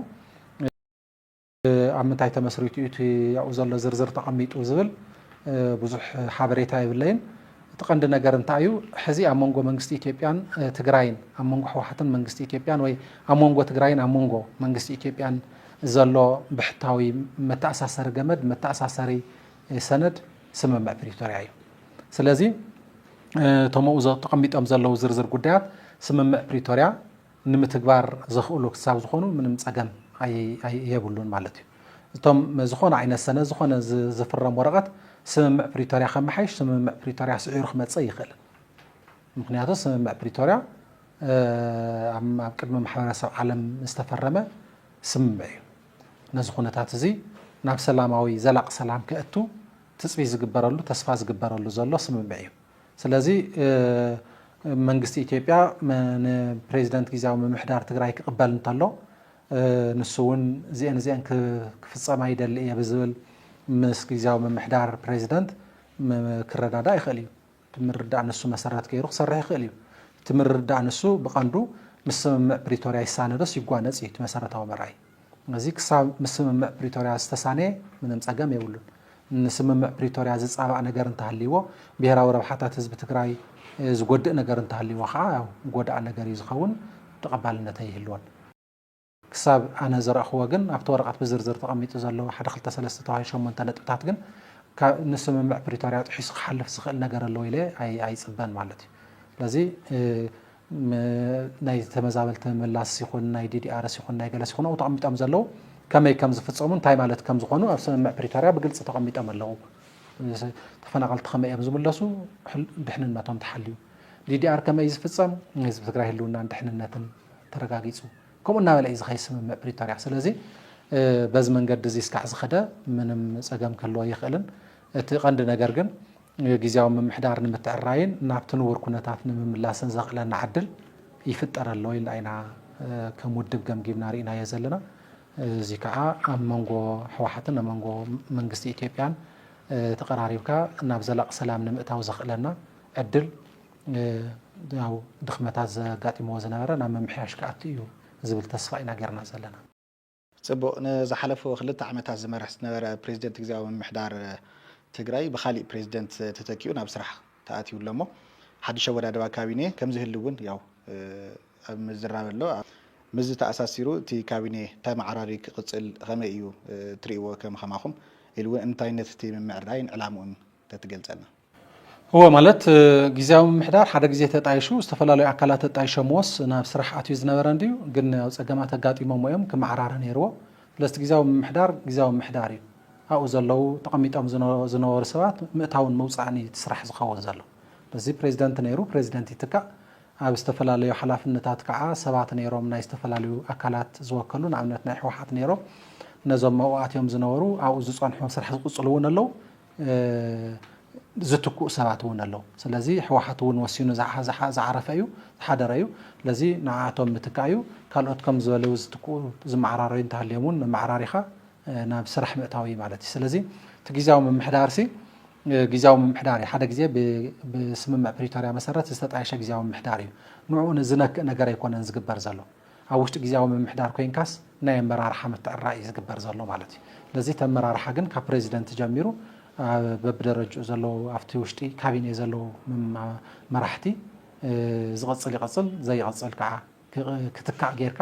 ኣብ ምንታይ ተመስሪቱ እዩ እቲ ኣብኡ ዘሎ ዝርዝር ተቐሚጡ ዝብል ብዙሕ ሓበሬታ የብለይን። እቲ ቀንዲ ነገር እንታይ እዩ ሕዚ ኣብ መንጎ መንግስቲ ኢትዮጵያን ትግራይን ኣብ መንጎ ሕወሓትን መንግስቲ ኢትዮጵያን ወይ ኣብ መንጎ ትግራይን ኣብ መንጎ መንግስቲ ኢትዮጵያን ዘሎ ብሕታዊ መተኣሳሰሪ ገመድ መተኣሳሰሪ ሰነድ ስምምዕ ፕሪቶሪያ እዩ። ስለዚ እቶም ኣብኡ ተቐሚጦም ዘለዉ ዝርዝር ጉዳያት ስምምዕ ፕሪቶሪያ ንምትግባር ዘኽእሉ ክሳብ ዝኾኑ ምንም ፀገም የብሉን ማለት እዩ። እቶም ዝኾነ ዓይነት ሰነድ ዝኾነ ዝፍረም ወረቐት ስምምዕ ፕሪቶርያ ከመሓይሽ ስምምዕ ፕሪቶርያ ስዒሩ ክመፅእ ኣይኽእልን። ምኽንያቱ ስምምዕ ፕሪቶርያ ኣብ ቅድሚ ማሕበረሰብ ዓለም ዝተፈረመ ስምምዕ እዩ። ነዚ ኩነታት እዚ ናብ ሰላማዊ ዘላቕ ሰላም ከእቱ ትፅቢት ዝግበረሉ ተስፋ ዝግበረሉ ዘሎ ስምምዕ እዩ። ስለዚ መንግስቲ ኢትዮጵያ ንፕሬዚደንት ጊዚያዊ ምምሕዳር ትግራይ ክቕበል እንተሎ ንሱ እውን እዚኤን እዚኤን ክፍፀማ ይደሊ እየ ብዝብል ምስ ጊዚያዊ ምምሕዳር ፕሬዚደንት ክረዳዳእ ይኽእል እዩ። እቲ ምርዳእ ንሱ መሰረት ገይሩ ክሰርሕ ይኽእል እዩ። እቲ ምርዳእ ንሱ ብቐንዱ ምስ ስምምዕ ፕሪቶርያ ይሳነ ዶስ ይጓነፅ እዩ እቲ መሰረታዊ መርኣዪ። እዚ ክሳብ ምስ ስምምዕ ፕሪቶርያ ዝተሳነየ ምንም ፀገም የብሉን። ንስምምዕ ፕሪቶርያ ዝፃባእ ነገር እንተሃልይዎ፣ ብሄራዊ ረብሓታት ህዝቢ ትግራይ ዝጎድእ ነገር እንተሃልይዎ ከዓ ያው ጎዳኢ ነገር እዩ ዝኸውን፣ ተቐባልነት ኣይህልዎን። ክሳብ ኣነ ዝረእኽዎ ግን ኣብቲ ወረቐት ብዝርዝር ተቐሚጡ ዘሎ ሓደ ክልተ ሰለስተ ተባሂሉ ሸሞንተ ነጥብታት ግን ካብ ንስምምዕ ፕሪቶርያ ጥሒሱ ክሓልፍ ዝኽእል ነገር ኣለዎ ኢለ ኣይፅበን ማለት እዩ። ስለዚ ናይ ተመዛበልቲ ምምላስ ይኹን ናይ ዲዲኣርስ ይኹን ናይ ገለስ ይኹን ኣብኡ ተቐሚጦም ዘለዉ ከመይ ከም ዝፍፀሙ እንታይ ማለት ከም ዝኾኑ ኣብ ስምምዕ ፕሪቶርያ ብግልፂ ተቐሚጦም ኣለዉ። ተፈናቐልቲ ከመይ እዮም ዝምለሱ ድሕንነቶም ተሓልዩ ዲዲኣር ከመይ እዩ ዝፍፀም ንህዝቢ ትግራይ ህልውናን ድሕንነትን ተረጋጊፁ ከምኡ እናበለ እዩ ዝኸይ ስምምዕ ፕሪቶርያ ስለዚ በዚ መንገዲ እዚ እስካዕ ዝኸደ ምንም ፀገም ክህልዎ ይኽእልን እቲ ቀንዲ ነገር ግን ግዝያዊ ምምሕዳር ንምትዕራይን ናብቲ ንቡር ኩነታት ንምምላስን ዘኽእለና ዕድል ይፍጠር ኣሎ ኢልና ኢና ከም ውድብ ገምጊምና ርኢናዮ ዘለና። እዚ ከዓ ኣብ መንጎ ህወሓትን ኣብ መንጎ መንግስቲ ኢትዮጵያን ተቐራሪብካ ናብ ዘላቂ ሰላም ንምእታው ዘኽእለና ዕድል ያው ድኽመታት ዘጋጢምዎ ዝነበረ ናብ ምምሕያሽ ክኣቱ እዩ ዝብል ተስፋ ኢና ጌርና ዘለና። ፅቡቕ ንዝሓለፉ ክልተ ዓመታት ዝመርሕ ዝነበረ ፕሬዝደንት ግዝያዊ ምምሕዳር ትግራይ ብኻሊእ ፕሬዝደንት ተተኪኡ ናብ ስራሕ ተኣትዩ ኣሎ እሞ ሓዱሽ ኣወዳድባ ካቢኔ ከምዝህሉ እውን ያው ኣብ ምዝራብ ኣሎ። ምስዚ ተኣሳሲሩ እቲ ካቢኔ ተመዓራርዩ ክቕፅል ኸመይ እዩ ትሪእዎ ከም ኸማኹም ኢሉ እውን እንታይነት እቲ ምምዕርራይን ዕላምኡን ተትገልፀልና። እወ ማለት ግዝያዊ ምምሕዳር ሓደ ግዜ ተጣይሹ ዝተፈላለዩ ኣካላት ተጣይሾምዎስ ናብ ስራሕ ኣትዩ ዝነበረ እንድዩ ግን ያው ፀገማት ኣጋጢሞምዎ እዮም ክመዓራረ ነይርዎ ስለዝቲ ግዝያዊ ምምሕዳር ግዝያዊ ምምሕዳር እዩ ኣብኡ ዘለው ተቐሚጦም ዝነበሩ ሰባት ምእታውን ምውፃእን እዩ እቲ ስራሕ ዝኸውን ዘሎ ስለዚ ፕሬዚደንት ነይሩ ፕሬዚደንት ይትካእ ኣብ ዝተፈላለዩ ሓላፍነታት ከዓ ሰባት ነይሮም ናይ ዝተፈላለዩ ኣካላት ዝወከሉ ንኣብነት ናይ ህወሓት ነይሮም ነዞም ኣብኡ ኣትዮም ዝነበሩ ኣብኡ ዝፀንሑ ስራሕ ዝቕፅሉ እውን ኣለው ዝትክኡ ሰባት እውን ኣለው ስለዚ ህወሓት እውን ወሲኑ ዝዓረፈ እዩ ዝሓደረ እዩ ስለዚ ንዓኣቶም ምትካእ እዩ ካልኦት ከም ዝበለው ዝትክኡ ዝመዓራረዩ እንተሃልዮም እውን መመዓራሪኻ ናብ ስራሕ ምእታው እዩ ማለት እዩ ስለዚ እቲ ግዜያዊ ምምሕዳር ሲ ግዜያዊ ምምሕዳር እዩ ሓደ ግዜ ብስምምዕ ፕሪቶርያ መሰረት ዝተጣየሸ ግዜያዊ ምምሕዳር እዩ ንዕኡ ዝነክእ ነገር ኣይኮነን ዝግበር ዘሎ ኣብ ውሽጢ ግዝያዊ ምምሕዳር ኮይንካስ ናይ ኣመራርሓ ምትዕራይ እዩ ዝግበር ዘሎ ማለት እዩ። ስለዚ እቲ ኣመራርሓ ግን ካብ ፕረዚደንት ጀሚሩ በብደረጅኡ ዘለዉ ኣብቲ ውሽጢ ካቢኔ ዘለዉ መራሕቲ ዝቕፅል ይቕፅል ዘይቕፅል ከዓ ክትካእ ጌርካ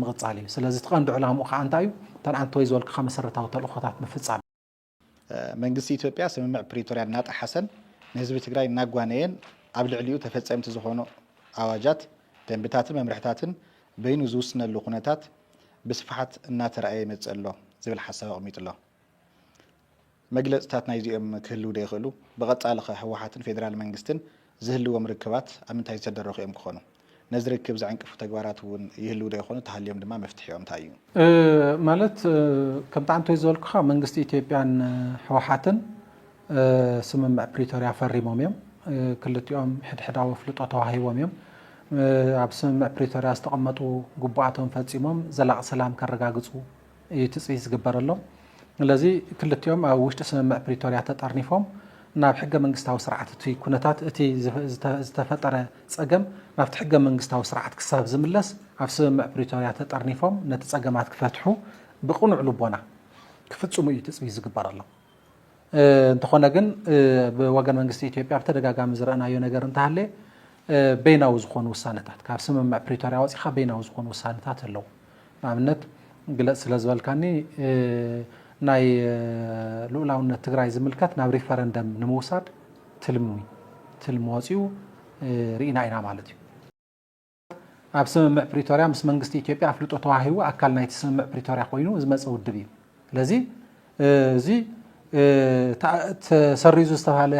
ምቕፃል እዩ። ስለዚ እቲ ቀንዲ ዕላምኡ ከዓ እንታይ እዩ? እተን ኣንተወይ ዝበልኩኻ መሰረታዊ ተልእኾታት ምፍፃም እዩ። መንግስቲ ኢትዮጵያ ስምምዕ ፕሪቶርያ እናጠሓሰን ንህዝቢ ትግራይ እናጓነየን ኣብ ልዕሊኡ ተፈፀምቲ ዝኾኑ ኣዋጃት፣ ደንብታትን መምርሕታትን በይኑ ዝውስነሉ ኩነታት ብስፍሓት እናተራእየ ይመፅእ ኣሎ ዝብል ሓሳብ ኣቕሚጡ ኣሎ። መግለፅታት ናይዚኦም ክህልው ዶ ይኽእሉ? ብቐፃሊ ኸ ህወሓትን ፌዴራል መንግስትን ዝህልዎም ርክባት ኣብ ምንታይ ዝተደረኹ እዮም ክኾኑ? ነዚ ርክብ ዝዕንቅፉ ተግባራት እውን ይህልው ዶ ይኾኑ? ተሃልዮም ድማ መፍትሒኦም እንታይ እዩ? ማለት ከምቲ ኣንቶይ ዝበልኩኻ መንግስቲ ኢትዮጵያን ህወሓትን ስምምዕ ፕሪቶርያ ፈሪሞም እዮም። ክልቲኦም ሕድሕዳዊ ኣፍልጦ ተዋሂቦም እዮም። ኣብ ስምምዕ ፕሪቶርያ ዝተቐመጡ ግቡኣቶም ፈፂሞም ዘላቒ ሰላም ከረጋግፁ፣ እዩ ትፅቢት ዝግበረሎም። ስለዚ ክልቲኦም ኣብ ውሽጢ ስምምዕ ፕሪቶርያ ተጠርኒፎም ናብ ሕገ መንግስታዊ ስርዓት እቲ ኩነታት እቲ ዝተፈጠረ ፀገም ናብቲ ሕገ መንግስታዊ ስርዓት ክሳብ ዝምለስ ኣብ ስምምዕ ፕሪቶርያ ተጠርኒፎም ነቲ ፀገማት ክፈትሑ ብቕኑዕ ልቦና ክፍፅሙ እዩ ትፅቢት ዝግበረሎም። እንተኾነ ግን ብወገን መንግስቲ ኢትዮጵያ ብተደጋጋሚ ዝረእናዮ ነገር እንተሃለየ በይናዊ ዝኾኑ ውሳነታት ካብ ስምምዕ ፕሪቶርያ ወፂኻ በይናዊ ዝኾኑ ውሳነታት ኣለዉ ንኣብነት ግለፅ ስለ ዝበልካኒ ናይ ልኡላውነት ትግራይ ዝምልከት ናብ ሪፈረንደም ንምውሳድ ትልሚ ትልሚ ወፂኡ ርኢና ኢና ማለት እዩ ኣብ ስምምዕ ፕሪቶርያ ምስ መንግስቲ ኢትዮጵያ ኣፍልጦ ተዋሂቡ ኣካል ናይቲ ስምምዕ ፕሪቶርያ ኮይኑ ዝመፀ ውድብ እዩ። ስለዚ እዚ ተሰሪዙ ዝተባሃለ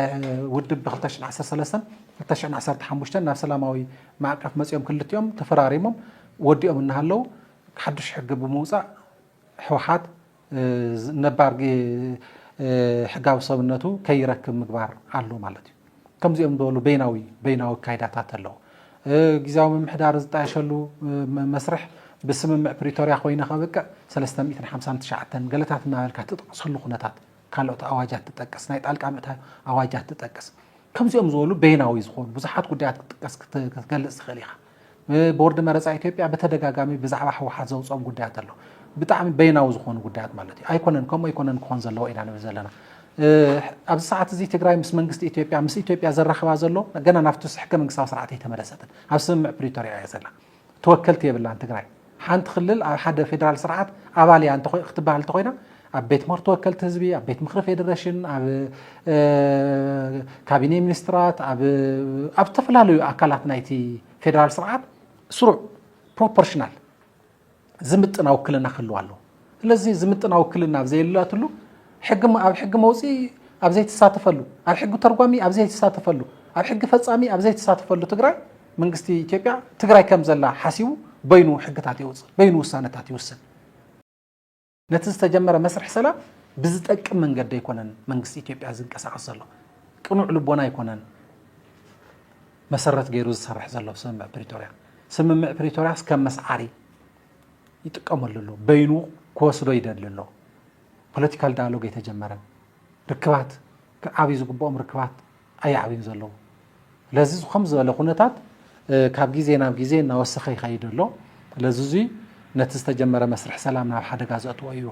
ውድብ ብ2013 2015 ናብ ሰላማዊ ማዕቀፍ መፅኦም ክልቲኦም ተፈራሪሞም ወዲኦም እናሃለው ሓዱሽ ሕጊ ብምውፃእ ህወሓት ነባር ሕጋዊ ሰብነቱ ከይረክብ ምግባር ኣሎ ማለት እዩ። ከምዚኦም ዝበሉ በይናዊ በይናዊ ኣካይዳታት ኣለዉ። ግዜያዊ ምምሕዳር ዝጣየሸሉ መስርሕ ብስምምዕ ፕሪቶርያ ኮይነ ከብቅዕ 359 ገለታት እናበልካ ትጠቕሰሉ ኩነታት ካልኦት ኣዋጃት ትጠቅስ ናይ ጣልቃ ምእታ ኣዋጃት ትጠቅስ ከምዚኦም ዝበሉ በይናዊ ዝኾኑ ብዙሓት ጉዳያት ክትጥቀስ ክትገልጽ ትኽእል ኢኻ። ቦርድ መረፃ ኢትዮጵያ ብተደጋጋሚ ብዛዕባ ህወሓት ዘውፅኦም ጉዳያት ኣሎ። ብጣዕሚ በይናዊ ዝኾኑ ጉዳያት ማለት እዩ። ኣይኮነን ከምኡ ኣይኮነን ክኾን ዘለዎ ኢና ንብል ዘለና። ኣብዚ ሰዓት እዚ ትግራይ ምስ መንግስቲ ኢትዮጵያ ምስ ኢትዮጵያ ዘራኽባ ዘሎ ገና ናብቲ ሕገ መንግስታዊ ስርዓት ኣይተመለሰትን። ኣብ ስምምዕ ፕሪቶሪያ እያ ዘላ። ተወከልቲ የብላን ትግራይ። ሓንቲ ክልል ኣብ ሓደ ፌደራል ስርዓት ኣባል እያ ክትበሃል እንተኾይና ኣብ ቤት ምኽሪ ተወከልቲ ህዝቢ፣ ኣብ ቤት ምኽሪ ፌደሬሽን፣ ኣብ ካቢኔ ሚኒስትራት፣ ኣብ ዝተፈላለዩ ኣካላት ናይቲ ፌደራል ስርዓት ስሩዕ ፕሮፖርሽናል ዝምጥና ውክልና ክህልዋ ኣለዎ። ስለዚ ዝምጥና ውክልና ኣብ ዘየላትሉ፣ ሕጊ ኣብ ሕጊ መውጽኢ ኣብ ዘይትሳተፈሉ፣ ኣብ ሕጊ ተርጓሚ ኣብ ዘይትሳተፈሉ፣ ኣብ ሕጊ ፈጻሚ ኣብ ዘይትሳተፈሉ ትግራይ መንግስቲ ኢትዮጵያ ትግራይ ከም ዘላ ሓሲቡ በይኑ ሕግታት የውጽእ፣ በይኑ ውሳነታት ይውስን። ነቲ ዝተጀመረ መስርሕ ሰላም ብዝጠቅም መንገዲ ኣይኮነን መንግስቲ ኢትዮጵያ ዝንቀሳቐስ ዘሎ። ቅኑዕ ልቦና ኣይኮነን መሰረት ገይሩ ዝሰርሕ ዘሎ ስምምዕ ፕሪቶርያ። ስምምዕ ፕሪቶርያስ ከም መስዓሪ ይጥቀመሉ ኣሎ በይኑ ክወስዶ ይደሊ ኣሎ ፖለቲካል ዳያሎግ ኣይተጀመረን ርክባት ክዓብዩ ዝግብኦም ርክባት ኣየዕብዩን ዘለዉ ስለዚ ከም ዝበለ ኩነታት ካብ ግዜ ናብ ግዜ እናወሰኸ ይኸይድ ኣሎ ስለዚ እዙይ ነቲ ዝተጀመረ መስርሕ ሰላም ናብ ሓደጋ ዘእትዎ እዩ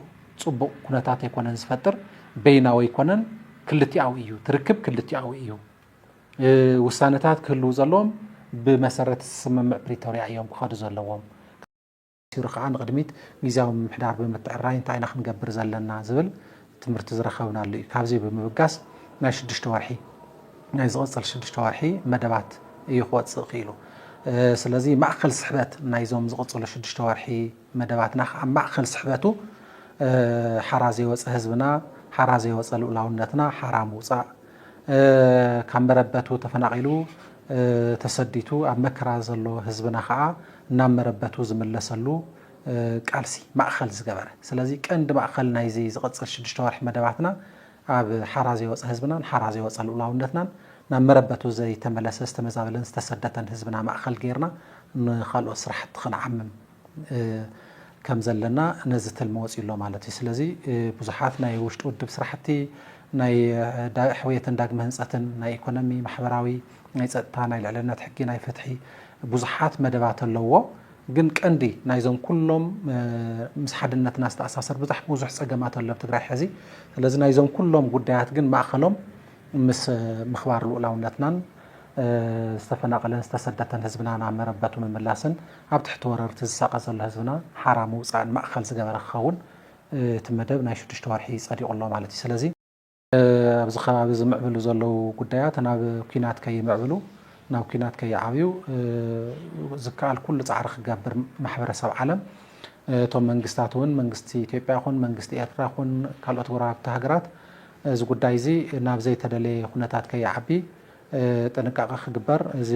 ፅቡቕ ኩነታት ኣይኮነን ዝፈጥር በይናዊ ኣይኮነን ክልቲኣዊ እዩ ትርክብ ክልቲኣዊ እዩ ውሳነታት ክህልው ዘለዎም ብመሰረት ስምምዕ ፕሪቶርያ እዮም ክኸዱ ዘለዎም። ሲሩ ከዓ ንቕድሚት ግዜያዊ ምምሕዳር ብምትዕራይ እንታይ ኢና ክንገብር ዘለና ዝብል ትምህርቲ ዝረኸብናሉ እዩ። ካብዚ ብምብጋስ ናይ ሽዱሽተ ወርሒ ናይ ዝቕፅል ሽዱሽተ ወርሒ መደባት እዩ ክወፅእ ክኢሉ። ስለዚ ማእኸል ስሕበት ናይዞም ዝቕፅሉ ሽዱሽተ ወርሒ መደባትና ከዓ ማእኸል ስሕበቱ ሓራ ዘይወፀ ህዝብና፣ ሓራ ዘይወፀ ልኡላውነትና ሓራ ምውፃእ ካብ መረበቱ ተፈናቒሉ ተሰዲቱ ኣብ መከራ ዘሎ ህዝብና ከዓ ናብ መረበቱ ዝምለሰሉ ቃልሲ ማእኸል ዝገበረ ስለዚ ቀንዲ ማእኸል ናይዚ ዝቕፅል ሽዱሽተ ወርሒ መደባትና ኣብ ሓራ ዘይወፀ ህዝብናን ሓራ ዘይወፀ ልኡላውነትናን ናብ መረበቱ ዘይተመለሰ ዝተመዛበለን ዝተሰደተን ህዝብና ማእኸል ገይርና ንኻልኦት ስራሕቲ ክንዓምም ከም ዘለና ነዚ ትልሚ ወፅዩ ኣሎ ማለት እዩ። ስለዚ ብዙሓት ናይ ውሽጢ ውድብ ስራሕቲ ናይ ሕውየትን ዳግመ ህንፀትን ናይ ኢኮኖሚ፣ ማሕበራዊ፣ ናይ ፀጥታ፣ ናይ ልዕልነት ሕጊ፣ ናይ ፍትሒ ብዙሓት መደባት ኣለዎ። ግን ቀንዲ ናይዞም ኩሎም ምስ ሓድነትና ዝተኣሳሰር ብዛሕ ብዙሕ ፀገማት ኣሎ ኣብ ትግራይ ሕዚ። ስለዚ ናይዞም ኩሎም ጉዳያት ግን ማእኸሎም ምስ ምኽባር ልኡላውነትናን ዝተፈናቐለን ዝተሰደተን ህዝብና ናብ መረበቱ ምምላስን ኣብ ትሕቲ ወረርቲ ዝሳቐ ዘሎ ህዝብና ሓራ ምውፃእን ማእኸል ዝገበረ ክኸውን እቲ መደብ ናይ ሽዱሽተ ወርሒ ፀዲቑ ኣሎ ማለት እዩ። ስለዚ። ኣብዚ ከባቢ ዝምዕብሉ ዘለዉ ጉዳያት ናብ ኲናት ከይምዕብሉ፣ ናብ ኲናት ከይዓብዩ ዝከኣል ኩሉ ፃዕሪ ክገብር ማሕበረሰብ ዓለም እቶም መንግስታት እውን መንግስቲ ኢትዮጵያ ይኹን መንግስቲ ኤርትራ ይኹን ካልኦት ጎረባብቲ ሃገራት እዚ ጉዳይ እዚ ናብ ዘይተደለየ ኩነታት ከይዓቢ ጥንቃቐ ክግበር እዚ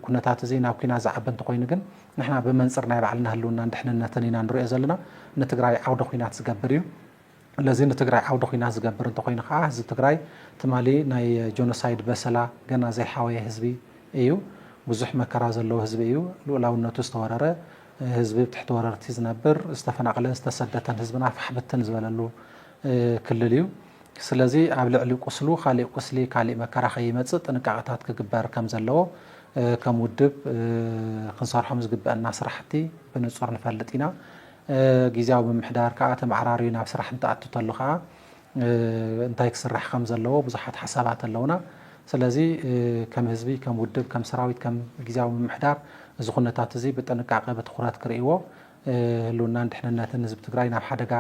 ኩነታት እዚ ናብ ኩናት ዝዓቢ እንተኾይኑ ግን ንሕና ብመንፅር ናይ ባዕልና ህልውናን ድሕንነትን ኢና ንሪኦ ዘለና ንትግራይ ዓውደ ኩናት ዝገብር እዩ ለዚ ንትግራይ ዓውደ ኩናት ዝገብር እንተኾይኑ ከዓ ህዝቢ ትግራይ ትማሊ ናይ ጆኖሳይድ በሰላ ገና ዘይሓወየ ህዝቢ እዩ ብዙሕ መከራ ዘለዎ ህዝቢ እዩ ሉእላውነቱ ዝተወረረ ህዝቢ ብትሕቲ ወረርቲ ዝነብር ዝተፈናቕለን ዝተሰደተን ህዝብና ፋሕ ብትን ዝበለሉ ክልል እዩ። ስለዚ ኣብ ልዕሊ ቁስሉ ካሊእ ቁስሊ ካሊእ መከራ ከይመፅእ ጥንቃቐታት ክግበር ከምዘለዎ ከም ውድብ ክንሰርሖም ዝግበእና ስራሕቲ ብንፁር ንፈልጥ ኢና። ጊዚያዊ ምምሕዳር ከዓ ተመዓራርዩ ናብ ስራሕ እንትኣቱ ተሎ ከዓ እንታይ ክስራሕ ከምዘለዎ ብዙሓት ሓሳባት ኣለውና። ስለዚ ከም ህዝቢ፣ ከም ውድብ፣ ከም ሰራዊት፣ ከም ጊዚያዊ ምምሕዳር እዚ ኩነታት እዚ ብጥንቃቐ ብትኹረት ክርእይዎ ህልውናን ድሕንነትን ህዝቢ ትግራይ ናብ ሓደጋ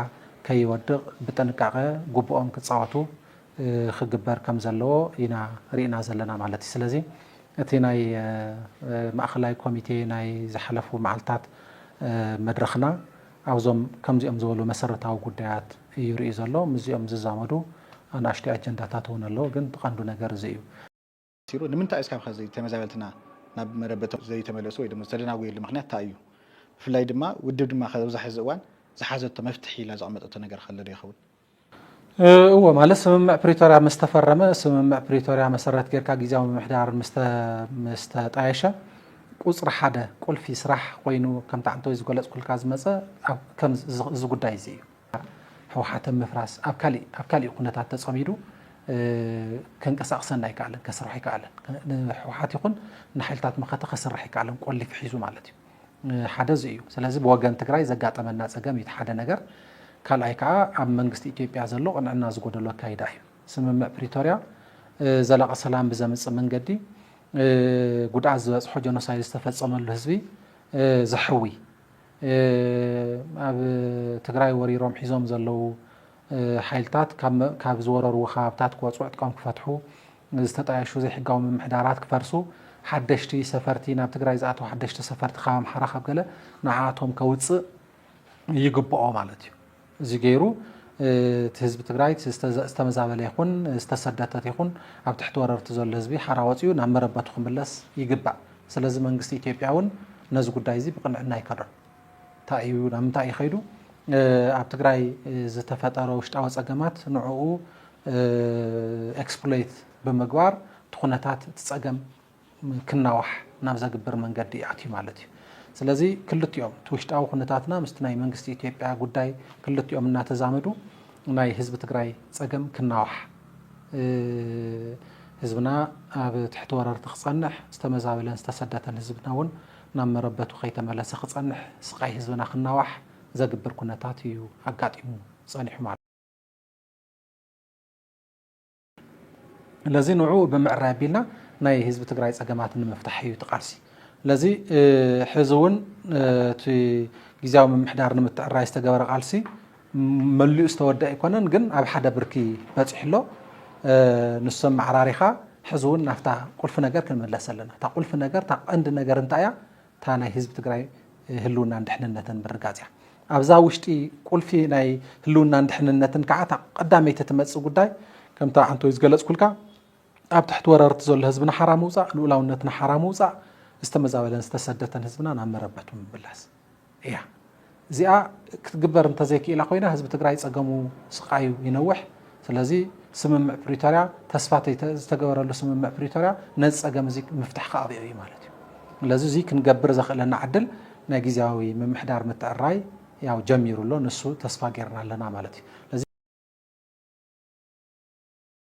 ከይወድቕ ብጥንቃቐ ጉቡኦም ክፃወቱ ክግበር ከምዘለዎ ኢና ሪእና ዘለና ማለት እዩ። ስለዚ እቲ ናይ ማእኸላይ ኮሚቴ ናይ ዝሓለፉ መዓልታት መድረኽና ኣብዞም ከምዚኦም ዝበሉ መሰረታዊ ጉዳያት እዩ ሪኡ ዘሎ። ምስዚኦም ዝዛመዱ ኣናእሽተይ ኣጀንዳታት እውን ኣለዉ ግን እቲ ቀንዱ ነገር እዚ እዩ። ሲሩ ንምንታይ እስካብ ኸዚ ተመዛበልትና ናብ መረበቶም ዘይተመለሱ ወይ ድማ ዝተደናጎየሉ ምኽንያት ታይ እዩ? ብፍላይ ድማ ውድብ ድማ ኸዚ ኣብዚ ሐዚ እዋን ዝሓዘቶ መፍትሒ ኢላ ዘቐመጠቶ ነገር ኸ ኣሎ ዶ ይኸውን? እወ ማለት ስምምዕ ፕሪቶርያ ምስ ተፈረመ ስምምዕ ፕሪቶርያ መሰረት ጌርካ ጊዚያዊ ምምሕዳር ምስ ተጣየሸ ቁፅሪ ሓደ ቁልፊ ስራሕ ኾይኑ ከም ታዓንተወይ ዝገለፅኩልካ ዝመፀ ኣብ ከም እዚ ጉዳይ እዚ እዩ። ህውሓት ኣብ ምፍራስ ኣብ ካሊእ ኣብ ካሊእ ኩነታት ተፀሚዱ ከንቀሳቕሰና ኣይከኣለን፣ ከስርሖ ኣይከኣለን። ንህውሓት ይኹን ንሓይልታት መኸተ ከስርሕ ኣይከኣለን፣ ቆሊፊ ሒዙ ማለት እዩ። ሓደ እዚ እዩ። ስለዚ ብወገን ትግራይ ዘጋጠመና ፀገም እዩ እቲ ሓደ ነገር። ካልኣይ ከዓ ኣብ መንግስቲ ኢትዮጵያ ዘሎ ቅንዕና ዝጎደሎ ኣካይዳ እዩ። ስምምዕ ፕሪቶርያ ዘላቒ ሰላም ብዘምፅእ መንገዲ ጉድኣት ዝበፅሖ ጀኖሳይድ ዝተፈፀመሉ ህዝቢ ዘሕዊ ኣብ ትግራይ ወሪሮም ሒዞም ዘለዉ ሓይልታት ካብ ዝወረርዎ ከባብታት ክወፅዑ፣ ዕጥቆም ክፈትሑ፣ ዝተጣየሹ ዘይሕጋዊ ምምሕዳራት ክፈርሱ፣ ሓደሽቲ ሰፈርቲ ናብ ትግራይ ዝኣተዉ ሓደሽቲ ሰፈርቲ ካብ ኣምሓራ ካብ ገለ ንዓኣቶም ከውፅእ ይግበኦ ማለት እዩ። እዚ ገይሩ እቲ ህዝቢ ትግራይ እቲ ዝተመዛበለ ይኹን ዝተሰደተት ይኹን ኣብ ትሕቲ ወረርቲ ዘሎ ህዝቢ ሓራ ወፂኡ ናብ መረበቱ ክምለስ ይግባእ። ስለዚ መንግስቲ ኢትዮጵያ እውን ነዚ ጉዳይ እዚ ብቅንዕና ይከዶ። እንታይ እዩ ናብ ምንታይ እዩ ከይዱ ኣብ ትግራይ ዝተፈጠረ ውሽጣዊ ፀገማት ንዕኡ ኤክስፕሎይት ብምግባር እቲ ኩነታት እቲ ፀገም ክናዋሕ ናብ ዘግብር መንገዲ ኣትዩ ማለት እዩ። ስለዚ ክልቲኦም እቲ ውሽጣዊ ኩነታትና ምስቲ ናይ መንግስቲ ኢትዮጵያ ጉዳይ ክልቲኦም እናተዛመዱ ናይ ህዝቢ ትግራይ ፀገም ክናዋሕ ህዝብና ኣብ ትሕቲ ወረርቲ ክፀንሕ ዝተመዛበለን ዝተሰደተን ህዝብና እውን ናብ መረበቱ ከይተመለሰ ክፀንሕ ስቃይ ህዝብና ክናዋሕ ዘግብር ኩነታት እዩ ኣጋጢሙ ፀኒሑ ማለት ለዚ ንዕኡ ብምዕራይ ኣቢልና ናይ ህዝቢ ትግራይ ፀገማት ንምፍታሕ እዩ እቲ ቃልሲ። ለዚ ሕዚ እውን እቲ ግዜያዊ ምምሕዳር ንምትዕራይ ዝተገበረ ቃልሲ መሊኡ ዝተወድአ ኣይኮነን፣ ግን ኣብ ሓደ ብርኪ በፂሑ ኣሎ። ንሱ ኣመዓራሪኻ ሕዚ እውን ናብታ ቁልፊ ነገር ክንምለስ ኣለና። እታ ቁልፊ ነገር እታ ቀንዲ ነገር እንታይ እያ? እታ ናይ ህዝቢ ትግራይ ህልውናን ድሕንነትን ምርጋፅ እያ። ኣብዛ ውሽጢ ቁልፊ ናይ ህልውናን ድሕንነትን ከዓ እታ ቀዳመይቲ ትመፅእ ጉዳይ ከምታ ኣንቶይ ዝገለፅኩልካ ኣብ ትሕቲ ወረርቲ ዘሎ ህዝብና ሓራ ምውፃእ፣ ልኡላውነትና ሓራ ምውፃእ፣ ዝተመዛበለን ዝተሰደተን ህዝብና ናብ መረበቱ ምምላስ እያ። እዚኣ ክትግበር እንተዘይክኢላ ኮይና ህዝቢ ትግራይ ፀገሙ ስቃዩ ይነውሕ። ስለዚ ስምምዕ ፕሪቶርያ ተስፋ ዝተገበረሉ ስምምዕ ፕሪቶርያ ነዚ ፀገም እዚ ምፍታሕ ክኣብዮ እዩ ማለት እዩ። ስለዚ እዚ ክንገብር ዘኽእለና ዕድል ናይ ግዝያዊ ምምሕዳር ምትዕርራይ ያው ጀሚሩ ኣሎ ንሱ ተስፋ ገይርና ኣለና ማለት እዩ።